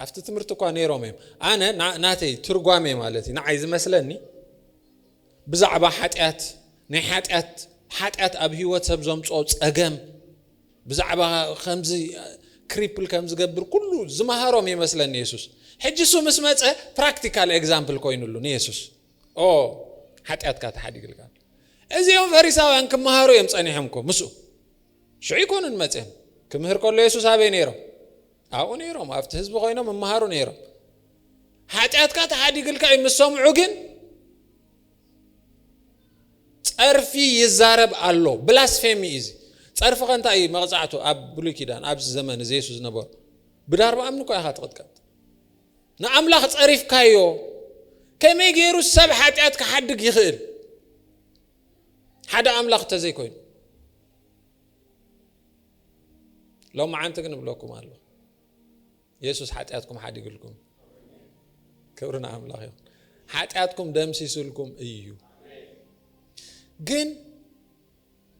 ኣብቲ ትምህርቲ እኳ ነይሮም እዮም ኣነ ናተይ ትርጓሜ ማለት እዩ ንዓይ ዝመስለኒ ብዛዕባ ሓጢኣት ናይ ሓጢኣት ሓጢኣት ኣብ ሂወት ሰብ ዘምፅኦ ፀገም ብዛዕባ ከምዚ ክሪፕል ከም ዝገብር ኩሉ ዝመሃሮም ይመስለኒ የሱስ ሕጂ እሱ ምስ መፀ ፕራክቲካል ኤግዛምፕል ኮይኑሉ ንየሱስ ኦ ሓጢኣትካ ተሓዲግልካ እዚኦም ፈሪሳውያን ክመሃሩ እዮም ፀኒሖም ኮ ምስኡ ሽዑ ኣይኰኑን መጺኦም። ክምህር ከሎ የሱስ ኣበይ ነይሮም? ኣብኡ ነይሮም። ኣብቲ ህዝቢ ዀይኖም ይመሃሩ ነይሮም። ሓጢኣትካ ተሓዲግልካ እዩ ምስ ሰምዑ ግን ጸርፊ ይዛረብ ኣሎ። ብላስፌሚ እዩ እዚ። ጸርፊ ከ እንታይ እዩ መቕጻዕቱ? ኣብ ብሉይ ኪዳን ኣብዚ ዘመን እዚ የሱስ ዝነበሩ ብዳርባ እምኒ እኳ ኢኻ ትቕጥቀጥ። ንኣምላኽ ጸሪፍካዮ። ከመይ ገይሩ ሰብ ሓጢኣት ክሓድግ ይኽእል? ሓደ ኣምላኽ ተዘይኮይኑ ሎምዓንቲ ግን እብለኩም ኣሎ የሱስ ሓጢኣትኩም ሓዲግልኩም ክብሪ ንኣምላኽ ይኹን ሓጢኣትኩም ደምሲስልኩም እዩ ግን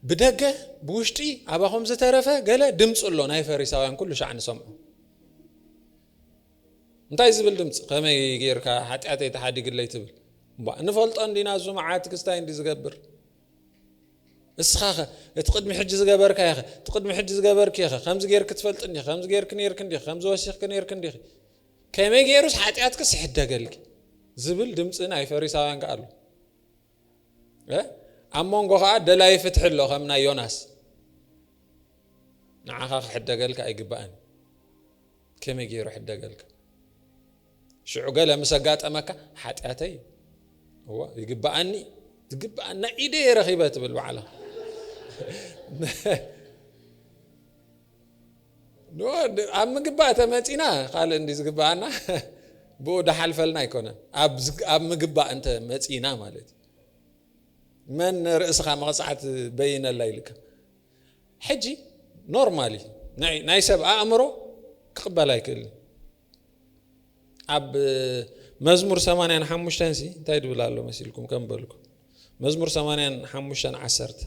ብደገ ብውሽጢ ኣባኹም ዝተረፈ ገለ ድምፂ ኣሎ ናይ ፈሪሳውያን ኩሉ ሻዕ ንሰምዑ እንታይ ዝብል ድምጺ ከመይ ጌርካ ሓጢኣተይ ተሓዲግለይ ትብል እባ ንፈልጦ እንዲና እዙ መዓት ክስታይ እንዲ ዝገብር እስኻኸ እቲ ቅድሚ ሕጂ ዝገበርካዮ ኸ እቲ ቅድሚ ሕጂ ዝገበርክዮ ኸ ከምዚ ጌርክ ትፈልጥ እንዲኺ ከምዚ ጌርክ ነርክ እንዲኺ ከምዚ ወሲኽክ ነርክ እንዲኺ ከመይ ገይሩስ ሓጢኣትክስ ይሕደገልኪ ዝብል ድምፂ ናይ ፈሪሳውያን ከ ኣሎ ኣብ መንጎ ከኣ ደላይ ፍትሒ ኣሎ ከም ናይ ዮናስ ንዓኻ ክሕደገልካ ኣይግባእን ከመይ ገይሩ ሕደገልካ ሽዑ ገለ ምስ ኣጋጠመካ ሓጢኣተይ እዎ ይግባኣኒ ዝግባኣኒ ናይ ኢደ የረኺበ ትብል በዓላ ኣብ ምግባእ ተመጺና ካልእ እንዲ ዝግባኣና ብኡ ዳሓልፈልና ኣይኮነን ኣብ ምግባእ እንተ መጺና ማለት እዩ መን ርእስኻ መቕጻዕት በይነላ ኢልካ ሕጂ ኖርማል እዩ ናይ ሰብ ኣእምሮ ክቕበል ኣይክእል ኣብ መዝሙር 85 ሲ እንታይ ድብል ኣሎ መሲልኩም ከም በልኩ መዝሙር 85 ዓሰርተ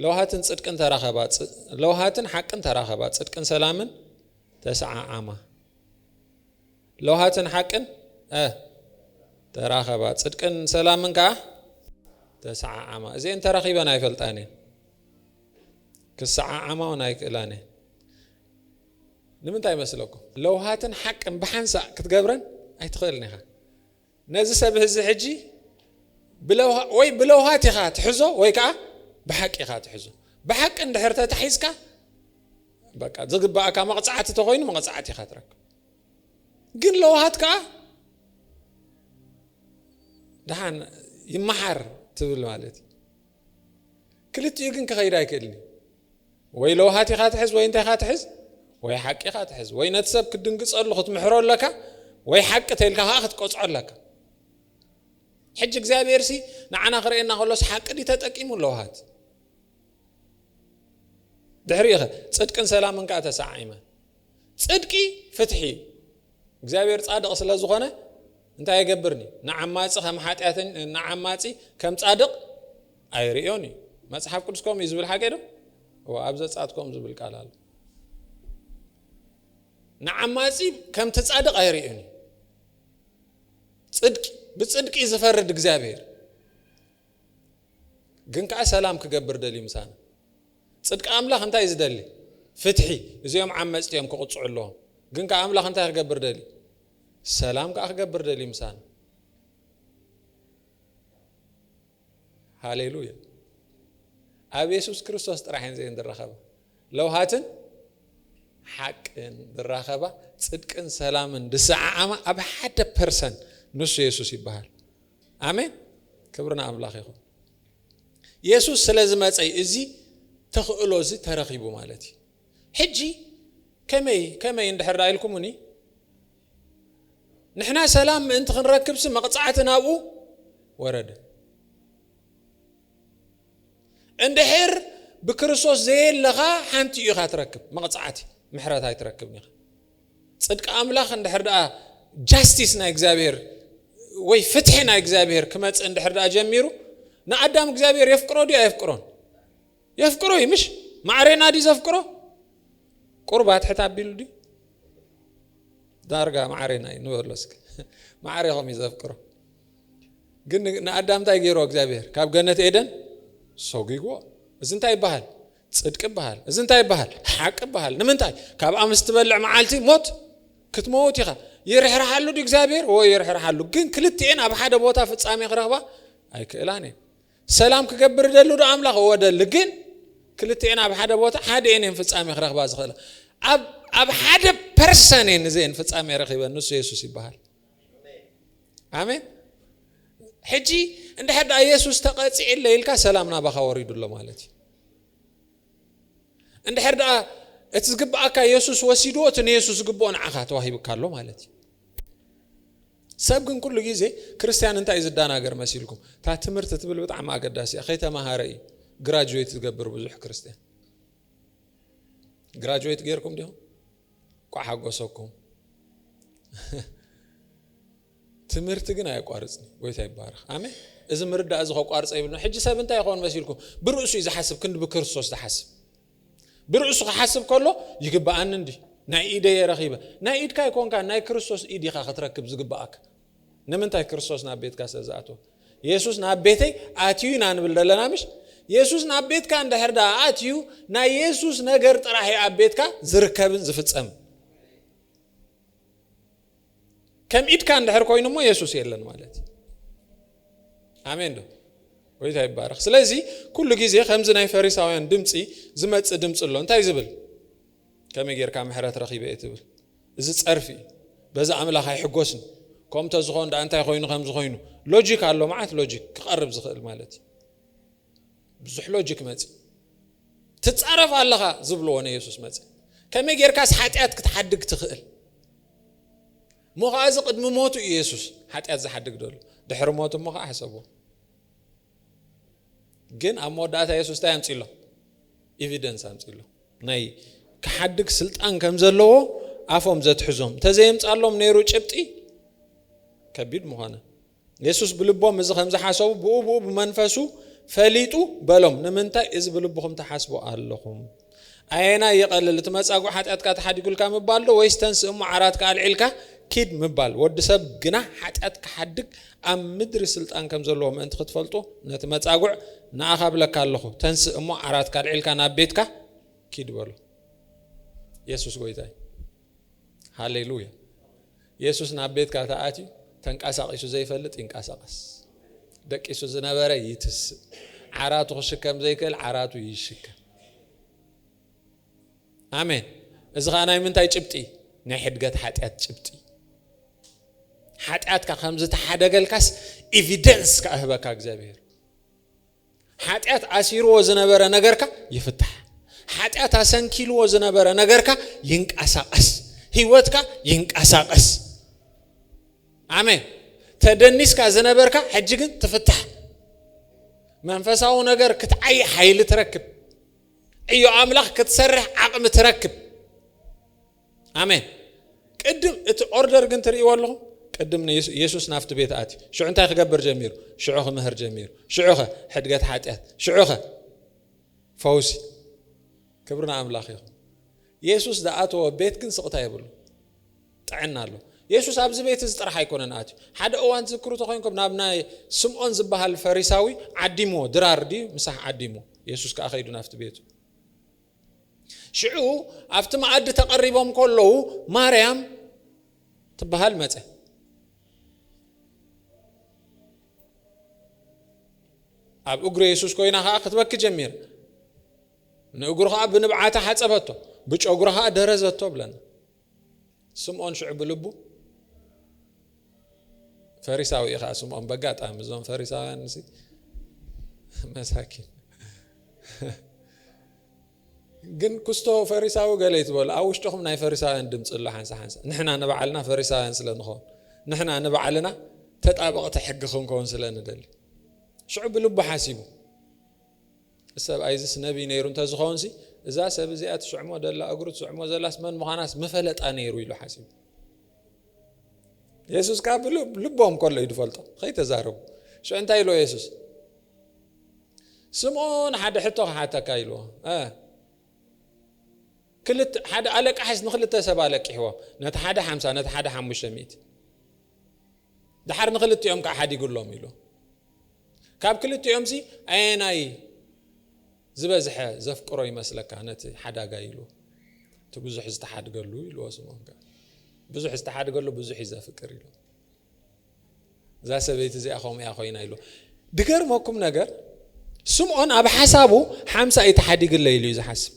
ለውሃትን ጽድቅን ተራኸባ ለውሃትን ሓቅን ተራኸባ ጽድቅን ሰላምን ተሰዓዓማ ለውሃትን ሓቅን ተራኸባ ጽድቅን ሰላምን ከዓ ተሰዓዓማ እዚአን ተራኺበን ኣይፈልጣን እየን ክሰዓዓማ እውን ኣይክእላን እየን ንምንታይ ይመስለኩም? ለውሃትን ሓቅን ብሓንሳእ ክትገብረን ኣይትኽእልን ኢኻ። ነዚ ሰብ እዚ ሕጂ ወይ ብለውሃት ኢኻ ትሕዞ ወይ ከዓ ብሓቂ ኢኻ ትሕዞ። ብሓቂ እንድሕር ተታሒዝካ በቃ ዝግባእካ መቕፃዕቲ ተኾይኑ መቕፃዕቲ ኢኻ ትረክብ። ግን ለውሃት ከዓ ድሓን ይመሓር ትብል ማለት እዩ። ክልቲኡ ግን ክኸይድ ኣይክእልን እዩ። ወይ ለውሃት ኢኻ ትሕዝ ወይ እንታይ ኢኻ ትሕዝ ወይ ሓቂ ኢኻ ትሕዝ ወይ ነቲ ሰብ ክትድንግጸሉ ክትምሕሮ ኣለካ ወይ ሓቂ ተልካ ከዓ ክትቀጽዖ ኣለካ ሕጂ እግዚኣብሔር ሲ ንዓና ክርእየና ከሎስ ሓቂ ዲ ተጠቂሙ ለውሃት ድሕሪኡ ኸ ጽድቅን ሰላምን ከዓ ተሰዓይመ ጽድቂ ፍትሒ እዩ። እግዚኣብሔር ጻድቕ ስለ ዝኾነ እንታይ ኣይገብርን እዩ? ንዓማጺ ከም ሓጢኣተኛ ንዓማጺ ከም ጻድቕ ኣይርእዮን እዩ። መጽሓፍ ቅዱስ ከምኡ እዩ ዝብል ሓቂ ዶ? እወ ኣብ ዘጸኣት ከምኡ ዝብል ቃል ኣሎ። ንዓማጺ ከምቲ ጻድቕ ኣይርእዮን እዩ። ጽድቂ ብጽድቂ እዩ ዝፈርድ እግዚኣብሔር። ግን ከዓ ሰላም ክገብር ደልዩ ምሳና። ጽድቂ ኣምላኽ እንታይ እዩ ዝደሊ? ፍትሒ። እዚኦም ዓመጽቲ እዮም ክቕጽዑ ኣለዎም። ግን ከኣ ኣምላኽ እንታይ ክገብር ደልዩ? ሰላም ከኣ ክገብር ደልዩ ምሳና። ሃሌሉያ። ኣብ የሱስ ክርስቶስ ጥራሕ እየን እዚኤን ዝራኸባ ለውሃትን ሓቅን ዝራኸባ ጽድቅን ሰላምን ዝሰዓዓማ ኣብ ሓደ ፐርሰን ንሱ የሱስ ይበሃል። ኣሜን ክብሪ ንኣምላኽ ይኹን። የሱስ ስለ ዝመጸ እዩ እዚ ተኽእሎ እዚ ተረኺቡ ማለት እዩ። ሕጂ ከመይ ከመይ እንድሕር ደኣ ኢልኩምኒ ንሕና ሰላም ምእንቲ ክንረክብሲ መቕጻዕቲ ናብኡ ወረደ። እንድሕር ብክርስቶስ ዘየለኻ ሓንቲ ኢኻ ትረክብ መቕጻዕቲ ምሕረት ኣይትረክብን ኢኻ። ጽድቂ ኣምላኽ እንድሕር ደኣ ጃስቲስ ናይ እግዚኣብሔር ወይ ፍትሒ ናይ እግዚኣብሔር ክመጽእ እንድሕር ደኣ ጀሚሩ ንኣዳም እግዚኣብሔር የፍቅሮ ድዩ ኣየፍቅሮን? የፍቅሮ እዩ ምሽ ማዕሬና ድዩ ዘፍቅሮ? ቁርባት ሕት ኣቢሉ ድዩ? ዳርጋ ማዕሬና እዩ ንበሎ እስኪ ማዕሬኹም እዩ ዘፍቅሮ ግን ንኣዳም እንታይ ገይሮ እግዚኣብሔር ካብ ገነት ኤደን ሰጒግዎ እዚ እንታይ ይበሃል ጽድቂ ይበሃል እዚ እንታይ ይበሃል ሓቂ ይበሃል ንምንታይ ካብኣ ምስ ትበልዕ መዓልቲ ሞት ክትመውት ኢኻ ይርሕርሓሉ ድ እግዚኣብሔር ወይ ይርሕርሓሉ ግን ክልትኤን ኣብ ሓደ ቦታ ፍጻሜ ክረኽባ ኣይክእላን እየን ሰላም ክገብር ደሉ ዶ ኣምላኽ እወ ደሊ ግን ክልትኤን ኣብ ሓደ ቦታ ሓደ ኤን እየን ፍጻሜ ክረኽባ ዝኽእላ ኣብ ሓደ ፐርሰን እየን እዚኤን ፍጻሜ ረኺበን ንሱ የሱስ ይበሃል ኣሜን ሕጂ እንድሕር ደኣ የሱስ ተቐጺዕ እለ ኢልካ ሰላም ናባኻ ወሪዱ ኣሎ ማለት እዩ እንድሕር ደኣ እቲ ዝግብኣካ የሱስ ወሲድዎ እቲ ንየሱስ ዝግብኦ ንዓኻ ተዋሂብካ ኣሎ ማለት እዩ ሰብ ግን ኩሉ ግዜ ክርስትያን እንታይ እዩ ዝደናገር መሲልኩም እታ ትምህርቲ ትብል ብጣዕሚ ኣገዳሲ እያ ከይተማሃረ እዩ ግራጅዌት ዝገብር ብዙሕ ክርስትያን ግራጅዌት ገይርኩም ዲኹም እንኳዕ ሓጎሰኩም ትምህርቲ ግን ኣየቋርጽን እዩ ጎይታ ይባረኽ ኣሜን እዚ ምርዳእ እዚ ከቋርጸ ይብልና ሕጂ ሰብ እንታይ ይኸውን መሲልኩም ብርእሱ እዩ ዝሓስብ ክንዲ ብክርስቶስ ዝሓስብ ብርእሱ ክሓስብ ከሎ ይግብኣኒ እንዲ ናይ ኢደየ ረኺበ ናይ ኢድካ ኣይኮንካ ናይ ክርስቶስ ኢድ ኢኻ ክትረክብ ዝግብኣካ ንምንታይ ክርስቶስ ናብ ቤትካ ስለ ዝኣተወ የሱስ ናብ ቤተይ ኣትዩ ኢና ንብል ዘለና ምሽ የሱስ ናብ ቤትካ እንድሕር ዳ ኣትዩ ናይ የሱስ ነገር ጥራሕ እዩ ኣብ ቤትካ ዝርከብን ዝፍፀምን ከም ኢድካ እንድሕር ኮይኑ እሞ የሱስ የለን ማለት እዩ ኣሜን ዶ ወይታ ይባረኽ ስለዚ ኩሉ ግዜ ከምዚ ናይ ፈሪሳውያን ድምፂ ዝመፅእ ድምፂ ኣሎ እንታይ ዝብል ከመይ ጌርካ ምሕረት ረኺበ እየ ትብል እዚ ጸርፊ እዩ በዚ ኣምላኽ ኣይሕጎስን ከምኡ እንተዝኾን ደኣ እንታይ ኮይኑ ከምዚ ኮይኑ ሎጂክ ኣሎ መዓት ሎጂክ ክቐርብ ዝኽእል ማለት እዩ ብዙሕ ሎጂክ መፅ ትፃረፍ ኣለኻ ዝብልዎ ንየሱስ መፅ ከመይ ጌርካስ ሓጢኣት ክትሓድግ ትኽእል እሞ ከዓ እዚ ቅድሚ ሞቱ እዩ የሱስ ሓጢኣት ዝሓድግ ደሎ ድሕሪ ሞቱ እሞ ከዓ ሕሰብዎ ግን ኣብ መወዳእታ የሱስ እንታይ ኣምፅሎም ኤቪደንስ ኣምፅሎም ናይ ክሓድግ ስልጣን ከም ዘለዎ ኣፎም ዘትሕዞም እንተዘየምፃሎም ነይሩ ጭብጢ ከቢድ ምኾነ የሱስ ብልቦም እዚ ከም ዝሓሰቡ ብኡ ብኡ ብመንፈሱ ፈሊጡ በሎም ንምንታይ እዚ ብልብኹም ተሓስቡ ኣለኹም ኣየናይ ይቐልል እቲ መጻጉዕ ሓጢኣትካ ተሓዲጉልካ ምባል ዶ ወይስ ተንስእ እሞ ዓራትካ ኣልዒልካ ኪድ ምባል? ወዲ ሰብ ግና ሓጢኣት ክሓድግ ኣብ ምድሪ ስልጣን ከም ዘለዎ ምእንቲ ክትፈልጡ ነቲ መጻጉዕ ንኣኻ እብለካ ኣለኹ ተንስእ እሞ ዓራትካ ኣልዒልካ ናብ ቤትካ ኪድ በሎ። የሱስ ጎይታ እዩ። ሃሌሉያ! የሱስ ናብ ቤትካ ተኣትዩ ተንቃሳቂሱ ዘይፈልጥ ይንቃሳቀስ ደቂሱ ዝነበረ ይትስእ ዓራቱ ክሽከም ዘይክእል ዓራቱ ይሽከም ኣሜን እዚ ከዓ ናይ ምንታይ ጭብጢ ናይ ሕድገት ሓጢኣት ጭብጢ ሓጢኣትካ ከም ዝተሓደገልካስ ኤቪደንስ ክኣህበካ እግዚኣብሄር ሓጢኣት ኣሲርዎ ዝነበረ ነገርካ ይፍታሕ። ሓጢኣት ኣሰንኪልዎ ዝነበረ ነገርካ ይንቀሳቐስ። ህይወትካ ይንቀሳቐስ። ኣሜን። ተደኒስካ ዝነበርካ ሕጂ ግን ትፍታሕ። መንፈሳዊ ነገር ክትዓይ ሓይሊ ትረክብ። ዕዮ ኣምላኽ ክትሰርሕ ዓቕሚ ትረክብ። ኣሜን ቅድም እቲ ኦርደር ግን ትርእይዎ ኣለኹም ቅድም ንየሱስ ናፍቲ ቤት ኣትዩ ሽዑ እንታይ ክገብር ጀሚሩ ሽዑ ክምህር ጀሚሩ ሽዑ ኸ ሕድገት ሓጢኣት ሽዑ ኸ ፈውሲ ክብሪ ንኣምላኽ ይኹን የሱስ ዝኣተወ ቤት ግን ስቕታ የብሉ ጥዕና ኣሎ የሱስ ኣብዚ ቤት እዚ ጥራሕ ኣይኮነን ኣትዩ ሓደ እዋን ትዝክሩ ተኮይንኩም ናብ ናይ ስምዖን ዝበሃል ፈሪሳዊ ዓዲምዎ ድራር ድዩ ምሳሕ ዓዲምዎ የሱስ ከዓ ከይዱ ናብቲ ቤቱ ሽዑ ኣብቲ መኣዲ ተቐሪቦም ከለዉ ማርያም ትበሃል መፀ ኣብ እግሪ የሱስ ኮይና ከዓ ክትበኪ ጀሚር ንእግሩ ከዓ ብንብዓታ ሓፀበቶ ብጨጉራ ከዓ ደረዘቶ ብለና ስምኦን ሽዑ ብልቡ፣ ፈሪሳዊ እዩ ኸዓ ስምኦን፣ በጋጣሚ እዞም ፈሪሳውያን እሲ መሳኪን ግን ክስቶ ፈሪሳዊ ገለ ይትበሉ ኣብ ውሽጥኹም ናይ ፈሪሳውያን ድምፂ ኣሎ ሓንሳ ሓንሳ ንሕና ንባዕልና ፈሪሳውያን ስለ ንኸውን ንሕና ንባዕልና ተጣበቕቲ ሕጊ ክንከውን ስለ ንደሊ ሽዑ ብልቡ ሓሲቡ እዚ ሰብኣይ እዚስ ነቢይ ነይሩ እንተ ዝኸውንሲ፣ እዛ ሰብ እዚኣ ትስዕሞ ዘላ እግሩ ትስዕሞ ዘላስ መን ምዃናስ ምፈለጣ ነይሩ ኢሉ ሓሲቡ። የሱስ ከኣ ብልቦም ከሎ እዩ ዝፈልጦ፣ ኸይተዛረቡ። ሽዑ እንታይ ኢልዎ የሱስ? ስምኦን ሓደ ሕቶ ክሓተካ ኢልዎ ክልተ ሓደ ኣለቃሕስ ንክልተ ሰብ ኣለቂሕዎ ነቲ ሓደ ሓምሳ ነቲ ሓደ ሓሙሽተ ሚእቲ ደሓር ንኽልቲኦም ከኣ ሓዲጉሎም ኢሉ። ካብ ክልቲኦምሲ ኣየናይ ዝበዝሐ ዘፍቅሮ ይመስለካ ነቲ ሓዳጋይ ኢሉ። እቲ ብዙሕ ዝተሓድገሉ ኢልዎ ስምዖን ከኣ ብዙሕ ዝተሓድገሉ ብዙሕ እዩ ዘፍቅር ኢሉ። እዛ ሰበይቲ እዚኣ ከምኡ እያ ኮይና ኢሉ። ድገርመኩም ነገር ስምዖን ኣብ ሓሳቡ ሓምሳ እዩ ተሓዲግለ ኢሉ እዩ ዝሓስብ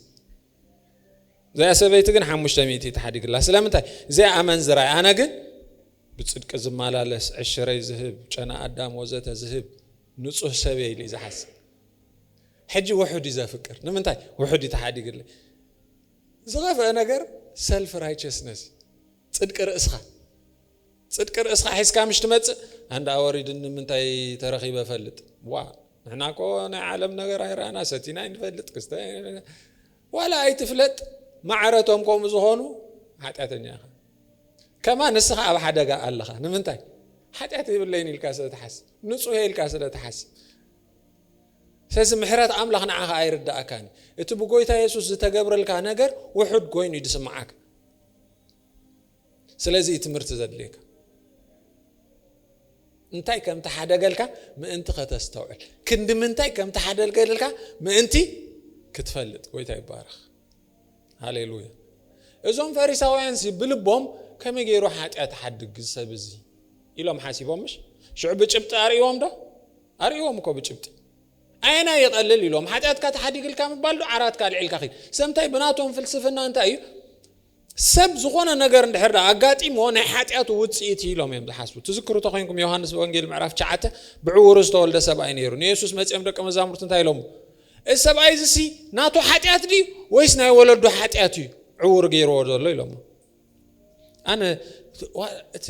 እዚኣ ሰበይቲ ግን ሓሙሽተ ሚእቲ ተሓዲግላ ስለምንታይ እዚኣ ኣመንዝራ ኣነ ግን ብጽድቂ ዝማላለስ ዕሽረይ ዝህብ ጨና ኣዳም ወዘተ ዝህብ ንጹህ ሰብ እየ ኢሉ እዩ ዝሓስብ ሕጂ ውሑድ እዩ ዘፍቅር ንምንታይ ውሑድ እዩ ተሓዲግለይ ዝኸፍአ ነገር ሰልፍ ራይቸስነስ ጽድቂ ርእስኻ ጽድቂ ርእስኻ ሒዝካ ምሽ ትመጽእ ኣንዳ ኣወሪድኒ ምንታይ ተረኺበ ፈልጥ ዋ ንሕና ኮ ናይ ዓለም ነገር ኣይረኣና ሰቲና ይንፈልጥ ክስተ ዋላ ኣይትፍለጥ ማዕረቶም ከምኡ ዝኾኑ ሓጢኣተኛ ኢኻ ከማ ንስኻ ኣብ ሓደጋ ኣለኻ ንምንታይ ሓጢኣት የብለይን ኢልካ ስለ ትሓስብ ንጹህ ኢልካ ስለ ትሓስብ ስለዚ ምሕረት ኣምላኽ ንዓኻ ኣይርዳእካን እቲ ብጎይታ የሱስ ዝተገብረልካ ነገር ውሑድ ኮይኑ እዩ ዝስምዓካ ስለዚ እዩ ትምህርቲ ዘድልየካ እንታይ ከም ተሓደገልካ ምእንቲ ከተስተውዕል ክንዲ ምንታይ ከም ተሓደገልካ ምእንቲ ክትፈልጥ ጎይታ ይባረኽ ሃሌሉያ እዞም ፈሪሳውያንሲ ብልቦም ከመይ ገይሩ ሓጢኣት ሓድግ ዝሰብ እዚ ኢሎም ሓሲቦም ምሽ ሽዑ ብጭብጢ ኣርእዎም ዶ ኣርእዎም እኮ ብጭብጢ ኣየና ይቐልል ኢሎም ሓጢኣትካ ተሓዲግልካ ምባል ዶ ዓራትካ ኣልዒልካ ኺድ ሰምታይ ብናቶም ፍልስፍና እንታይ እዩ ሰብ ዝኾነ ነገር እንድሕር ዳ ኣጋጢሞ ናይ ሓጢኣቱ ውፅኢት ኢሎም እዮም ዝሓስቡ ትዝክሩ ተኮይንኩም ዮሃንስ ወንጌል ምዕራፍ ሸዓተ ብዕውሩ ዝተወልደ ሰብኣይ ነይሩ ንየሱስ መፅኦም ደቂ መዛሙርቲ እንታይ ኢሎሞ እዚ ሰብኣይ እዚሲ ናቱ ሓጢኣት ድዩ ወይስ ናይ ወለዱ ሓጢኣት እዩ ዕውር ገይርዎ ዘሎ ኢሎሞ ኣነ እቲ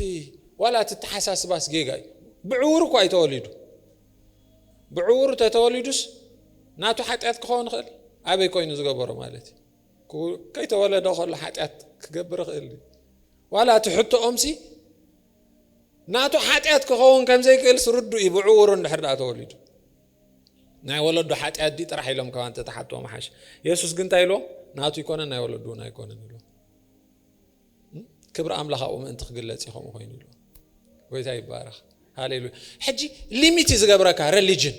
ዋላ እቲ ተሓሳስባስ ጌጋ እዩ ብዕውር እኳ እዩ ተወሊዱ ብዕውር ተተወሊዱስ ናቱ ሓጢኣት ክኸውን ይኽእል ኣበይ ኮይኑ ዝገበሮ ማለት እዩ ከይተወለደ ከሎ ሓጢኣት ክገብር ይኽእል እዩ ዋላ እቲ ሕቶኦምሲ ናቱ ሓጢኣት ክኸውን ከም ዘይክእልስ ርዱእ እዩ ብዕውሩ እንድሕር ደኣ ተወሊዱ ናይ ወለዱ ሓጢኣት ድዩ ጥራሕ ኢሎም ካብ እንተተሓትዎ ምሓሽ የሱስ ግን እንታይ ኢልዎ ናቱ ኣይኮነን ናይ ወለዱ እውን ኣይኮነን ኢልዎ ክብሪ ኣምላኽ ኣብኡ ምእንቲ ክግለጽ እዩ ከምኡ ኮይኑ ኢልዎ ጎይታ ይባረኽ ሃሌሉያ ሕጂ ሊሚት እዩ ዝገብረካ ሬሊጅን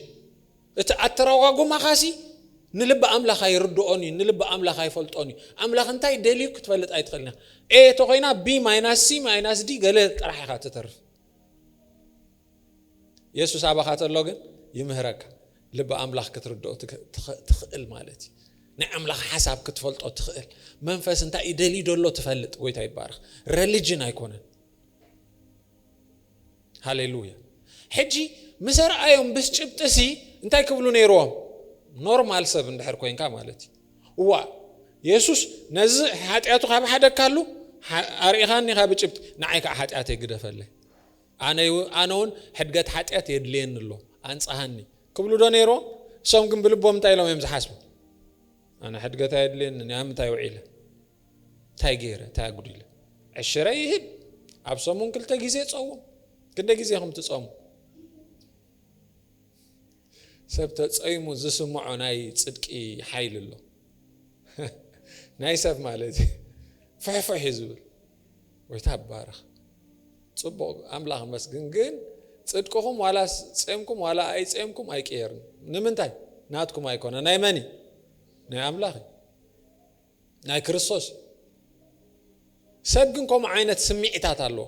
እቲ ኣተረጓጉማኻሲ ንልቢ ኣምላኽ ኣይርድኦን እዩ ንልቢ ኣምላኽ ኣይፈልጦን እዩ ኣምላኽ እንታይ ደልዩ ክትፈልጥ ኣይትኽእልን ኢኻ ኤ ተኮይና ቢ ማይናስ ሲ ማይናስ ዲ ገለ ጥራሕ ኢኻ ትተርፍ የሱስ ኣባኻ ተሎ ግን ይምህረካ ልቢ ኣምላኽ ክትርድኦ ትኽእል ማለት እዩ ናይ ኣምላኽ ሓሳብ ክትፈልጦ ትኽእል መንፈስ እንታይ እዩ ደልዩ ደሎ ትፈልጥ ጎይታ ይባርኽ ረሊጅን ኣይኮነን ሃሌሉያ ሕጂ ምስ ኣርኣዮም ብስ ጭብጢሲ እንታይ ክብሉ ነይርዎም ኖርማል ሰብ እንድሕር ኮንካ ማለት እዩ እዋ የሱስ ነዚ ሓጢኣቱ ካብ ሓደካሉ ኣርኢኻኒ ካብ ጭብጢ ንዓይ ከዓ ሓጢኣተይ ግደፈለይ ኣነውን ሕድገት ሓጢኣት የድልየኒ ኣሎ ኣንጽሃኒ ክብሉዶ ነይሮም? እሶም ግን ብልቦም እንታይ ኢሎም እዮም ዝሓስቡ? ኣነ ሕድገት ኣየድልየንን ኣብ ምንታይ ውዒለ እንታይ ገይረ እንታይ ኣጉዲለ ዕሽረ ይህብ ኣብ ሰሙን ክልተ ግዜ ጸውም ክንደ ግዜ ኹም ትጸሙ ሰብ ተጸይሙ ዝስምዖ ናይ ጽድቂ ሓይሊ ኣሎ ናይ ሰብ ማለት እዩ ፍሕፍሕ እዩ ዝብል ጎይታ ይባረኽ ጽቡቅ ኣምላኽ መስግን ግን ጽድቅኹም ዋላ ጼምኩም ዋላ ኣይጼምኩም ኣይቅየርን ንምንታይ ናትኩም ኣይኮነ ናይ መን እዩ ናይ ኣምላኽ እዩ ናይ ክርስቶስ እዩ ሰብ ግን ከምኡ ዓይነት ስምዒታት ኣለዎ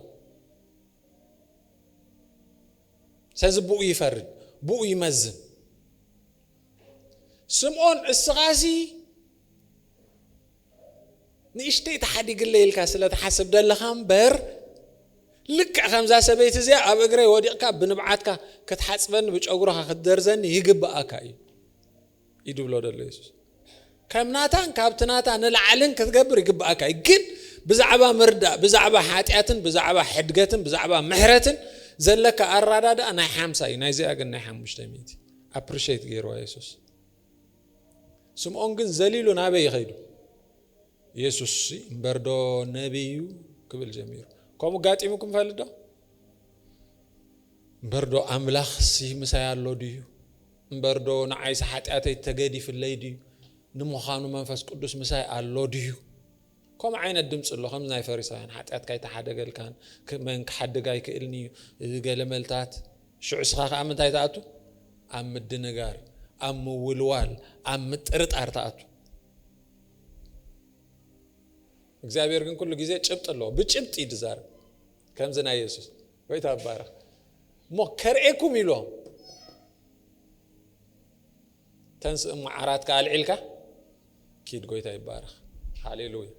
ስለዚ ብኡ ይፈርድ ብኡ ይመዝን ስምዖን እስኻሲ ንእሽተይ ተሓዲግለይ ኢልካ ስለ ትሓስብ ደለኻ እምበር ልክዕ ከምዛ ሰበይቲ እዚኣ ኣብ እግረይ ወዲቕካ ብንብዓትካ ክትሓጽበኒ ብጨጉርኻ ክትደርዘኒ ይግብኣካ እዩ እዩ ድብሎ ደሎ የሱስ ከም ናታን ካብቲ ናታ ንላዕልን ክትገብር ይግብኣካ እዩ ግን ብዛዕባ ምርዳእ ብዛዕባ ሓጢኣትን ብዛዕባ ሕድገትን ብዛዕባ ምሕረትን ዘለካ ኣራዳድኣ ናይ ሓምሳ እዩ ናይዚኣ ግን ናይ ሓሙሽተ ሚእቲ ኣፕሪሽት ገይርዋ የሱስ ስምዖን ግን ዘሊሉ ናበይ እዩ ኸይዱ? የሱስ እምበርዶ ነቢይ እዩ ክብል ጀሚሩ። ከምኡ ጋጢሙኩም ይፈልጥ ዶ? እምበርዶ ኣምላኽሲ ምሳይ ኣሎ ድዩ? እምበርዶ ንዓይሲ ሓጢኣተይ ተገዲፍለይ ድዩ? ንምዃኑ መንፈስ ቅዱስ ምሳይ ኣሎ ድዩ? ከምኡ ዓይነት ድምጺ ኣሎ ከምዚ ናይ ፈሪሳውያን ሓጢኣትካ ኣይተሓደገልካን መን ክሓድግ ኣይክእልን እዩ ገለ መልታት ሽዑ እስኻ ከኣ ምንታይ ትኣቱ ኣብ ምድንጋር ኣብ ምውልዋል ኣብ ምጥርጣር ትኣቱ እግዚኣብሔር ግን ኩሉ ግዜ ጭብጢ ኣለዎ ብጭብጢ እዩ ዝዛረብ ከምዚ ናይ የሱስ ወይታ ባረኽ እሞ ከርእኩም ኢሎም ተንስእ እሞ ዓራትካ ኣልዒልካ ኪድ ጎይታ ይባረኽ ሃሌሉያ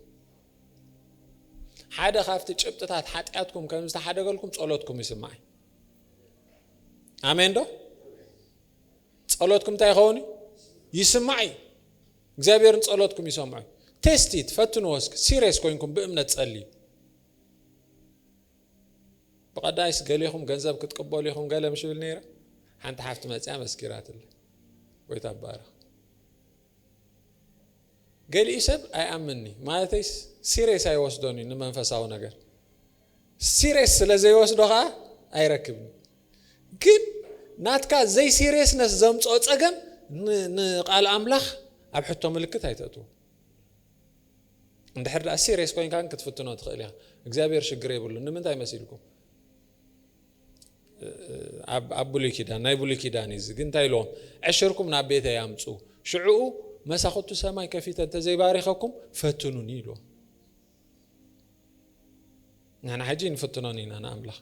ሓደ ካብቲ ጭብጥታት ሓጢኣትኩም ከም ዝተሓደገልኩም ጸሎትኩም ይስማዕ ኣሜን ዶ ጸሎትኩም እንታይ ይኸውን እዩ ይስማዕ እዩ እግዚኣብሔርን ጸሎትኩም ይሰምዑ እዩ ቴስቲት ፈትንዎ እስኪ ሲሪየስ ኮይንኩም ብእምነት ጸልዩ ብቐዳይስ ገሌኹም ገንዘብ ክትቅበሉ ኢኹም ገለ ምሽ ብል ነይረ ሓንቲ ሓፍቲ መፅያ መስኪራትለ ጎይታ ባረኽ ገሊኡ ሰብ ኣይኣምንኒ ማለተይ ሲሬስ ኣይወስዶን እዩ ንመንፈሳዊ ነገር ሲሬስ ስለ ዘይወስዶ ከዓ ኣይረክብን ግን ናትካ ዘይ ሲሬስነስ ዘምፅኦ ፀገም ንቃል ኣምላኽ ኣብ ሕቶ ምልክት ኣይተእትዎ እንድሕር ደኣ ሲርየስ ኮይንካ ግን ክትፍትኖ ትኽእል ኢኻ እግዚኣብሔር ሽግር የብሉን ንምንታይ መሲልኩም ኣብ ብሉይ ኪዳን ናይ ብሉይ ኪዳን እዩ ግን እንታይ ኢልዎም ዕሽርኩም ናብ ቤተይ ኣምፁ ሽዕኡ መሳኹቱ ሰማይ ከፊተ እንተዘይባሪኸኩም ፈትኑኒ ኢልዎም ንሕና ሕጂ ንፍትኖን ኢና ንኣምላኽ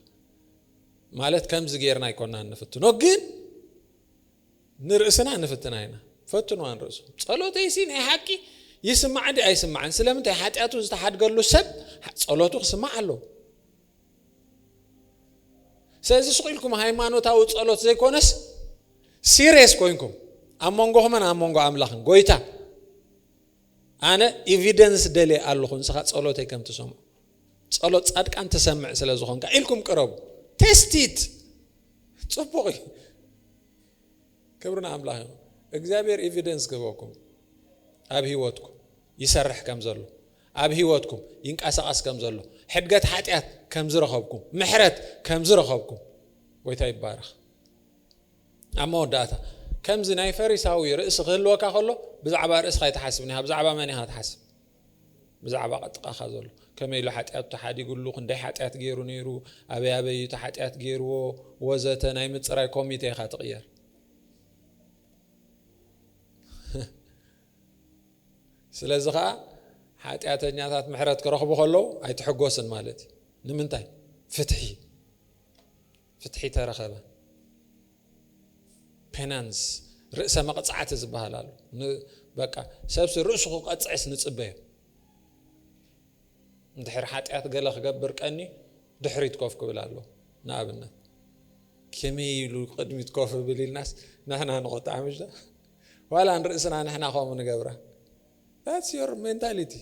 ማለት ከምዚ ጌርና ኣይኮናን ንፍትኖ ግን ንርእስና ንፍትና ኢና ፈትንዋ ንርእስኹም ጸሎተይሲ ናይ ሓቂ ይስማዕ እንዲ ኣይስማዕን ስለምንታይ ሓጢኣቱ ዝተሓድገሉ ሰብ ጸሎቱ ክስማዕ ኣለዎ ስለዚ ስቕ ኢልኩም ሃይማኖታዊ ጸሎት ዘይኮነስ ሲሪየስ ኮይንኩም ኣብ መንጎኹምን ኣብ መንጎ ኣምላኽን ጎይታ ኣነ ኤቪደንስ ደልየ ኣለኹ ንስኻ ጸሎተይ ከም ትሰምዑ ጸሎት ጻድቃን ትሰምዕ ስለ ዝኾንካ ኢልኩም ቅረቡ ቴስቲት ጽቡቕ እዩ ክብሪ ንኣምላኽ ይኹን እግዚኣብሔር ኤቪደንስ ክህበኩም ኣብ ህይወትኩም ይሰርሕ ከም ዘሎ ኣብ ህይወትኩም ይንቀሳቐስ ከም ዘሎ ሕድገት ሓጢኣት ከም ዝረኸብኩም ምሕረት ከም ዝረኸብኩም ጎይታ ይባረኽ ኣብ መወዳእታ ከምዚ ናይ ፈሪሳዊ ርእሲ ክህልወካ ከሎ ብዛዕባ ርእስኻ ይትሓስብ ኒኻ ብዛዕባ መን ኢኻ ትሓስብ ብዛዕባ ጥቃኻ ዘሎ ከመይ ኢሉ ሓጢኣቱ ተሓዲግሉ፣ ክንደይ ሓጢኣት ገይሩ ነይሩ፣ ኣበይ ኣበይ እዩ እቲ ሓጢኣት ገይርዎ ወዘተ ናይ ምፅራይ ኮሚቴ ኢኻ ትቕየር። ስለዚ ከዓ ሓጢኣተኛታት ምሕረት ክረኽቡ ከለዉ ኣይትሕጎስን ማለት እዩ። ንምንታይ? ፍትሒ ፍትሒ ተረኸበ። ፔናንስ ርእሰ መቕጻዕቲ ዝበሃል ኣሎ። በቃ ሰብሲ ርእሱ ክቐጽዕስ ንጽበዮ። እንድሕር ሓጢኣት ገለ ክገብር ቀኒ ድሕሪት ኮፍ ክብል ኣሎ ንኣብነት ከመይ ኢሉ ቅድሚት ኮፍ ብል ኢልናስ ንሕና ንቆጣዕ ምሽ ዋላ ንርእስና ንሕና ከምኡ ንገብራ ዳትስ ዮር ሜንታሊቲ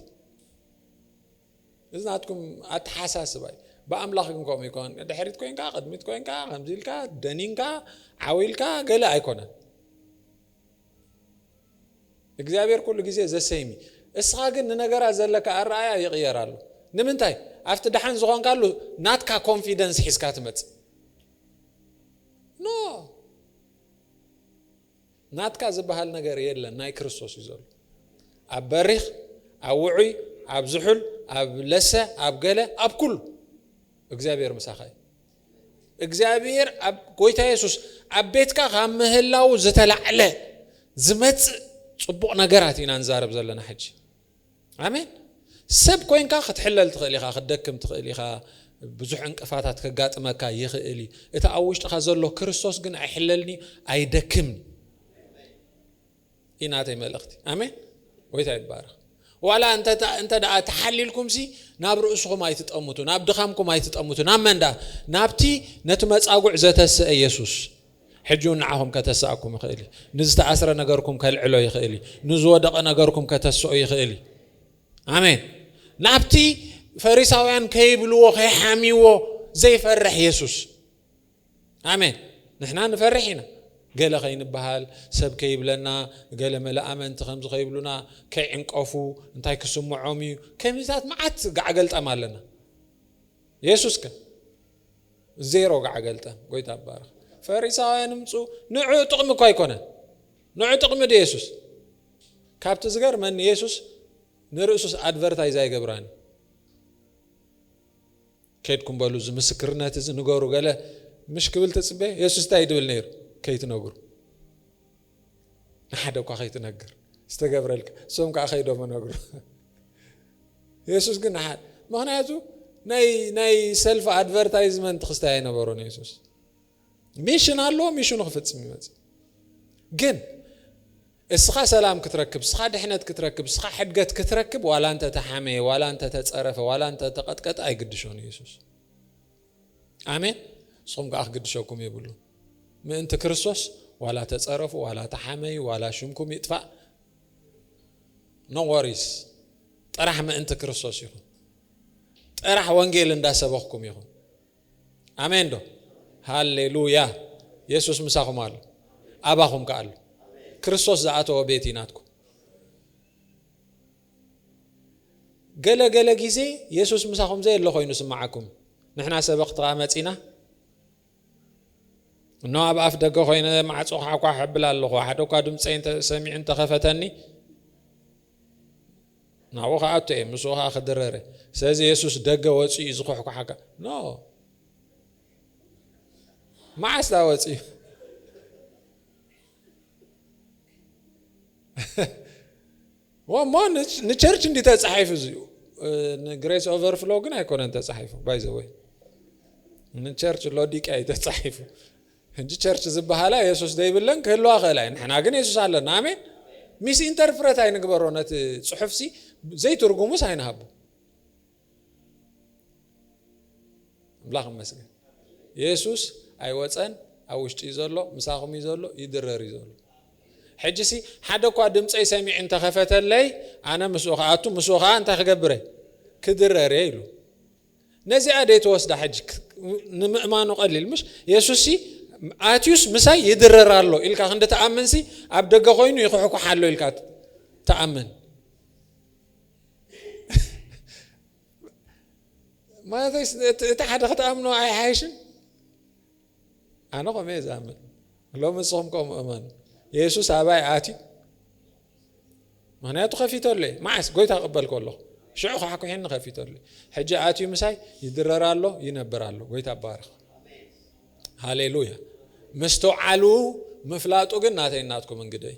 እዚ ናትኩም ኣተሓሳስባ እዩ ብኣምላኽ ግን ከምኡ ኣይኮነን ንድሕሪት ኮንካ ቅድሚት ኮንካ ከምዚ ኢልካ ደኒንካ ዓው ኢልካ ገለ ኣይኮነን እግዚኣብሔር ኩሉ ግዜ ዘሰይሚ እስኻ ግን ንነገራት ዘለካ ኣረኣያ ይቕየር ኣሎ ንምንታይ ኣብቲ ደሓን ዝኾንካሉ ናትካ ኮንፊደንስ ሒዝካ ትመፅእ ኖ ናትካ ዝብሃል ነገር የለን ናይ ክርስቶስ እዩ ዘሎ ኣብ በሪኽ ኣብ ውዑይ ኣብ ዝሑል ኣብ ለሰ ኣብ ገለ ኣብ ኩሉ እግዚኣብሔር ምሳኻ እዩ እግዚኣብሔር ኣብ ጎይታ የሱስ ኣብ ቤትካ ካብ ምህላው ዝተላዕለ ዝመፅእ ፅቡቕ ነገራት ኢና ንዛረብ ዘለና ሕጂ ኣሜን ሰብ ኮንካ ክትሕለል ትኽእል ኢኻ ክትደክም ትኽእል ኢኻ ብዙሕ ዕንቅፋታት ከጋጥመካ ይኽእል እዩ እቲ ኣብ ውሽጥኻ ዘሎ ክርስቶስ ግን ኣይሕለልኒ ኣይደክምኒ እዩ ናተይ መልእኽቲ ኣሜን ወይታ ይባረኽ ዋላ እንተ ደኣ ተሓሊልኩምሲ ናብ ርእስኹም ኣይትጠምቱ ናብ ድኻምኩም ኣይትጠምቱ ናብ መንዳ ናብቲ ነቲ መጻጉዕ ዘተስአ የሱስ ሕጂ ውን ንዓኹም ከተስኣኩም ይኽእል እዩ። ንዝተኣስረ ነገርኩም ከልዕሎ ይኽእል እዩ። ንዝወደቐ ነገርኩም ከተስኦ ይኽእል እዩ። ኣሜን። ናብቲ ፈሪሳውያን ከይብልዎ ከይሓምይዎ ዘይፈርሕ የሱስ ኣሜን። ንሕና ንፈርሕ ኢና ገለ ከይንበሃል ሰብ ከይብለና ገለ መለ ኣመንቲ ከምዚ ከይብሉና ከይዕንቀፉ እንታይ ክስምዖም እዩ ከሚታት መዓት ጋዕገልጠም ኣለና የሱስ ከ ዜሮ ጋዕገልጠም ጎይታ ይባረኽ ፈሪሳውያን ምጹ ንዑ ጥቅሚ እኮ ኣይኮነን ንዑ ጥቅሚ ዶ የሱስ ካብቲ ዝገርመኒ የሱስ ንርእሱስ ኣድቨርታይዝ ኣይገብራን እዩ ከድኩም በሉ እዚ ምስክርነት እዚ ንገሩ ገለ ምሽ ክብል ትፅበ የሱስ እንታይ ድብል ነይሩ ከይትነግሩ ንሓደ እኳ ከይትነግር ዝተገብረልካ እሶም ከዓ ከይዶም እነግሩ የሱስ ግን ንሓደ ምክንያቱ ናይ ሰልፊ ኣድቨርታይዝመንት ክስታይ ኣይነበሮን የሱስ ሚሽን ኣለዎ ሚሽኑ ክፍፅም ይመፅእ ግን እስኻ ሰላም ክትረክብ እስኻ ድሕነት ክትረክብ እስኻ ሕድገት ክትረክብ ዋላ እንተ ተሓመየ ዋላ እንተ ተፀረፈ ዋላ እንተ ተቐጥቀጠ ኣይግድሾን ኢየሱስ ኣሜን ንስኹም ከዓ ክግድሸኩም የብሉን ምእንቲ ክርስቶስ ዋላ ተፀረፉ ዋላ ተሓመዩ ዋላ ሽምኩም ይጥፋእ ኖወሪስ ጥራሕ ምእንቲ ክርስቶስ ይኹን ጥራሕ ወንጌል እንዳሰበኽኩም ይኹን ኣሜን ዶ ሃሌሉያ የሱስ ምሳኹም ኣሎ ኣባኹም ከኣሉ ክርስቶስ ዝኣተወ ቤት ኢናትኩም ገለ ገለ ግዜ የሱስ ምሳኹም ዘየለ ዀይኑ ስምዓኩም። ንሕና ሰበኽቲ ኸኣ መጺእና እነሆ ኣብ ኣፍ ደገ ዀይነ ማዕጾ ኳዕኳዕ ኣብል ኣለኹ፣ ሓደ እኳ ድምጸይ ሰሚዑ እንተ ኸፈተኒ ናብኡ ክኣቱ እየ፣ ምስኡ ኸኣ ክድረር እየ። ስለዚ የሱስ ደገ ወጺኡ እዩ ዝዅሕኳሓካ ኖ መዓስ ዳኣ ወጺኡ እሞ ንቸርች እንዲ ተፃሒፉ እዚኡ ንግሬስ ኦቨርፍሎ ግን ኣይኮነን ተፃሒፉ ባይዘወይ ንቸርች ሎዲቅያ እዩ ተፃሒፉ ሕጂ ቸርች ዝበሃላ የሱስ ዘይብለን ክህልዋ ክእላ እዩ ንሕና ግን የሱስ ኣለና ኣሜን ሚስ ኢንተርፕረት ኣይንግበሮ ነቲ ፅሑፍሲ ዘይትርጉሙስ ኣይንሃቦ ኣምላኽ ይመስገን የሱስ ኣይወፀን ኣብ ውሽጢ እዩ ዘሎ ምሳኹም እዩ ዘሎ ይድረር እዩ ዘሎ ሕጂሲ ሓደ እኳ ድምፀይ ሰሚዕ እንተኸፈተለይ ኣነ ምስኡ ከኣቱ ምስኡ ከዓ እንታይ ክገብረ ክድረር እየ ኢሉ ነዚኣ ደይተወስዳ ሕጂ ንምእማኑ ቀሊል ምሽ የሱስ ኣትዩስ ምሳይ ይድረር ኣሎ ኢልካ ክንዲ ተኣምንሲ ኣብ ደገ ኮይኑ ይኹሕኩሕ ኣሎ ኢልካ ተኣምን ማለተይስ እቲ እቲ ሓደ ክትኣምኖ ኣይሓይሽን ኣነ ከምኡ እየ ዝኣምን ሎሚ ንስኹም ከምኡ እመኑ የሱስ ኣባይ ኣትዩ ምክንያቱ ከፊተሉ እየ መዓስ ጎይታ ቅበል ከለኹ ሽዑ ካሕኩሕኒ ከፊተሉ ሕጂ ኣትዩ ምሳይ ይድረር ኣሎ ይነብር ኣሎ ጎይታ ባርኽ ሃሌሉያ ምስትውዓሉ ምፍላጡ ግን ናተይ ናትኩም እንግደይ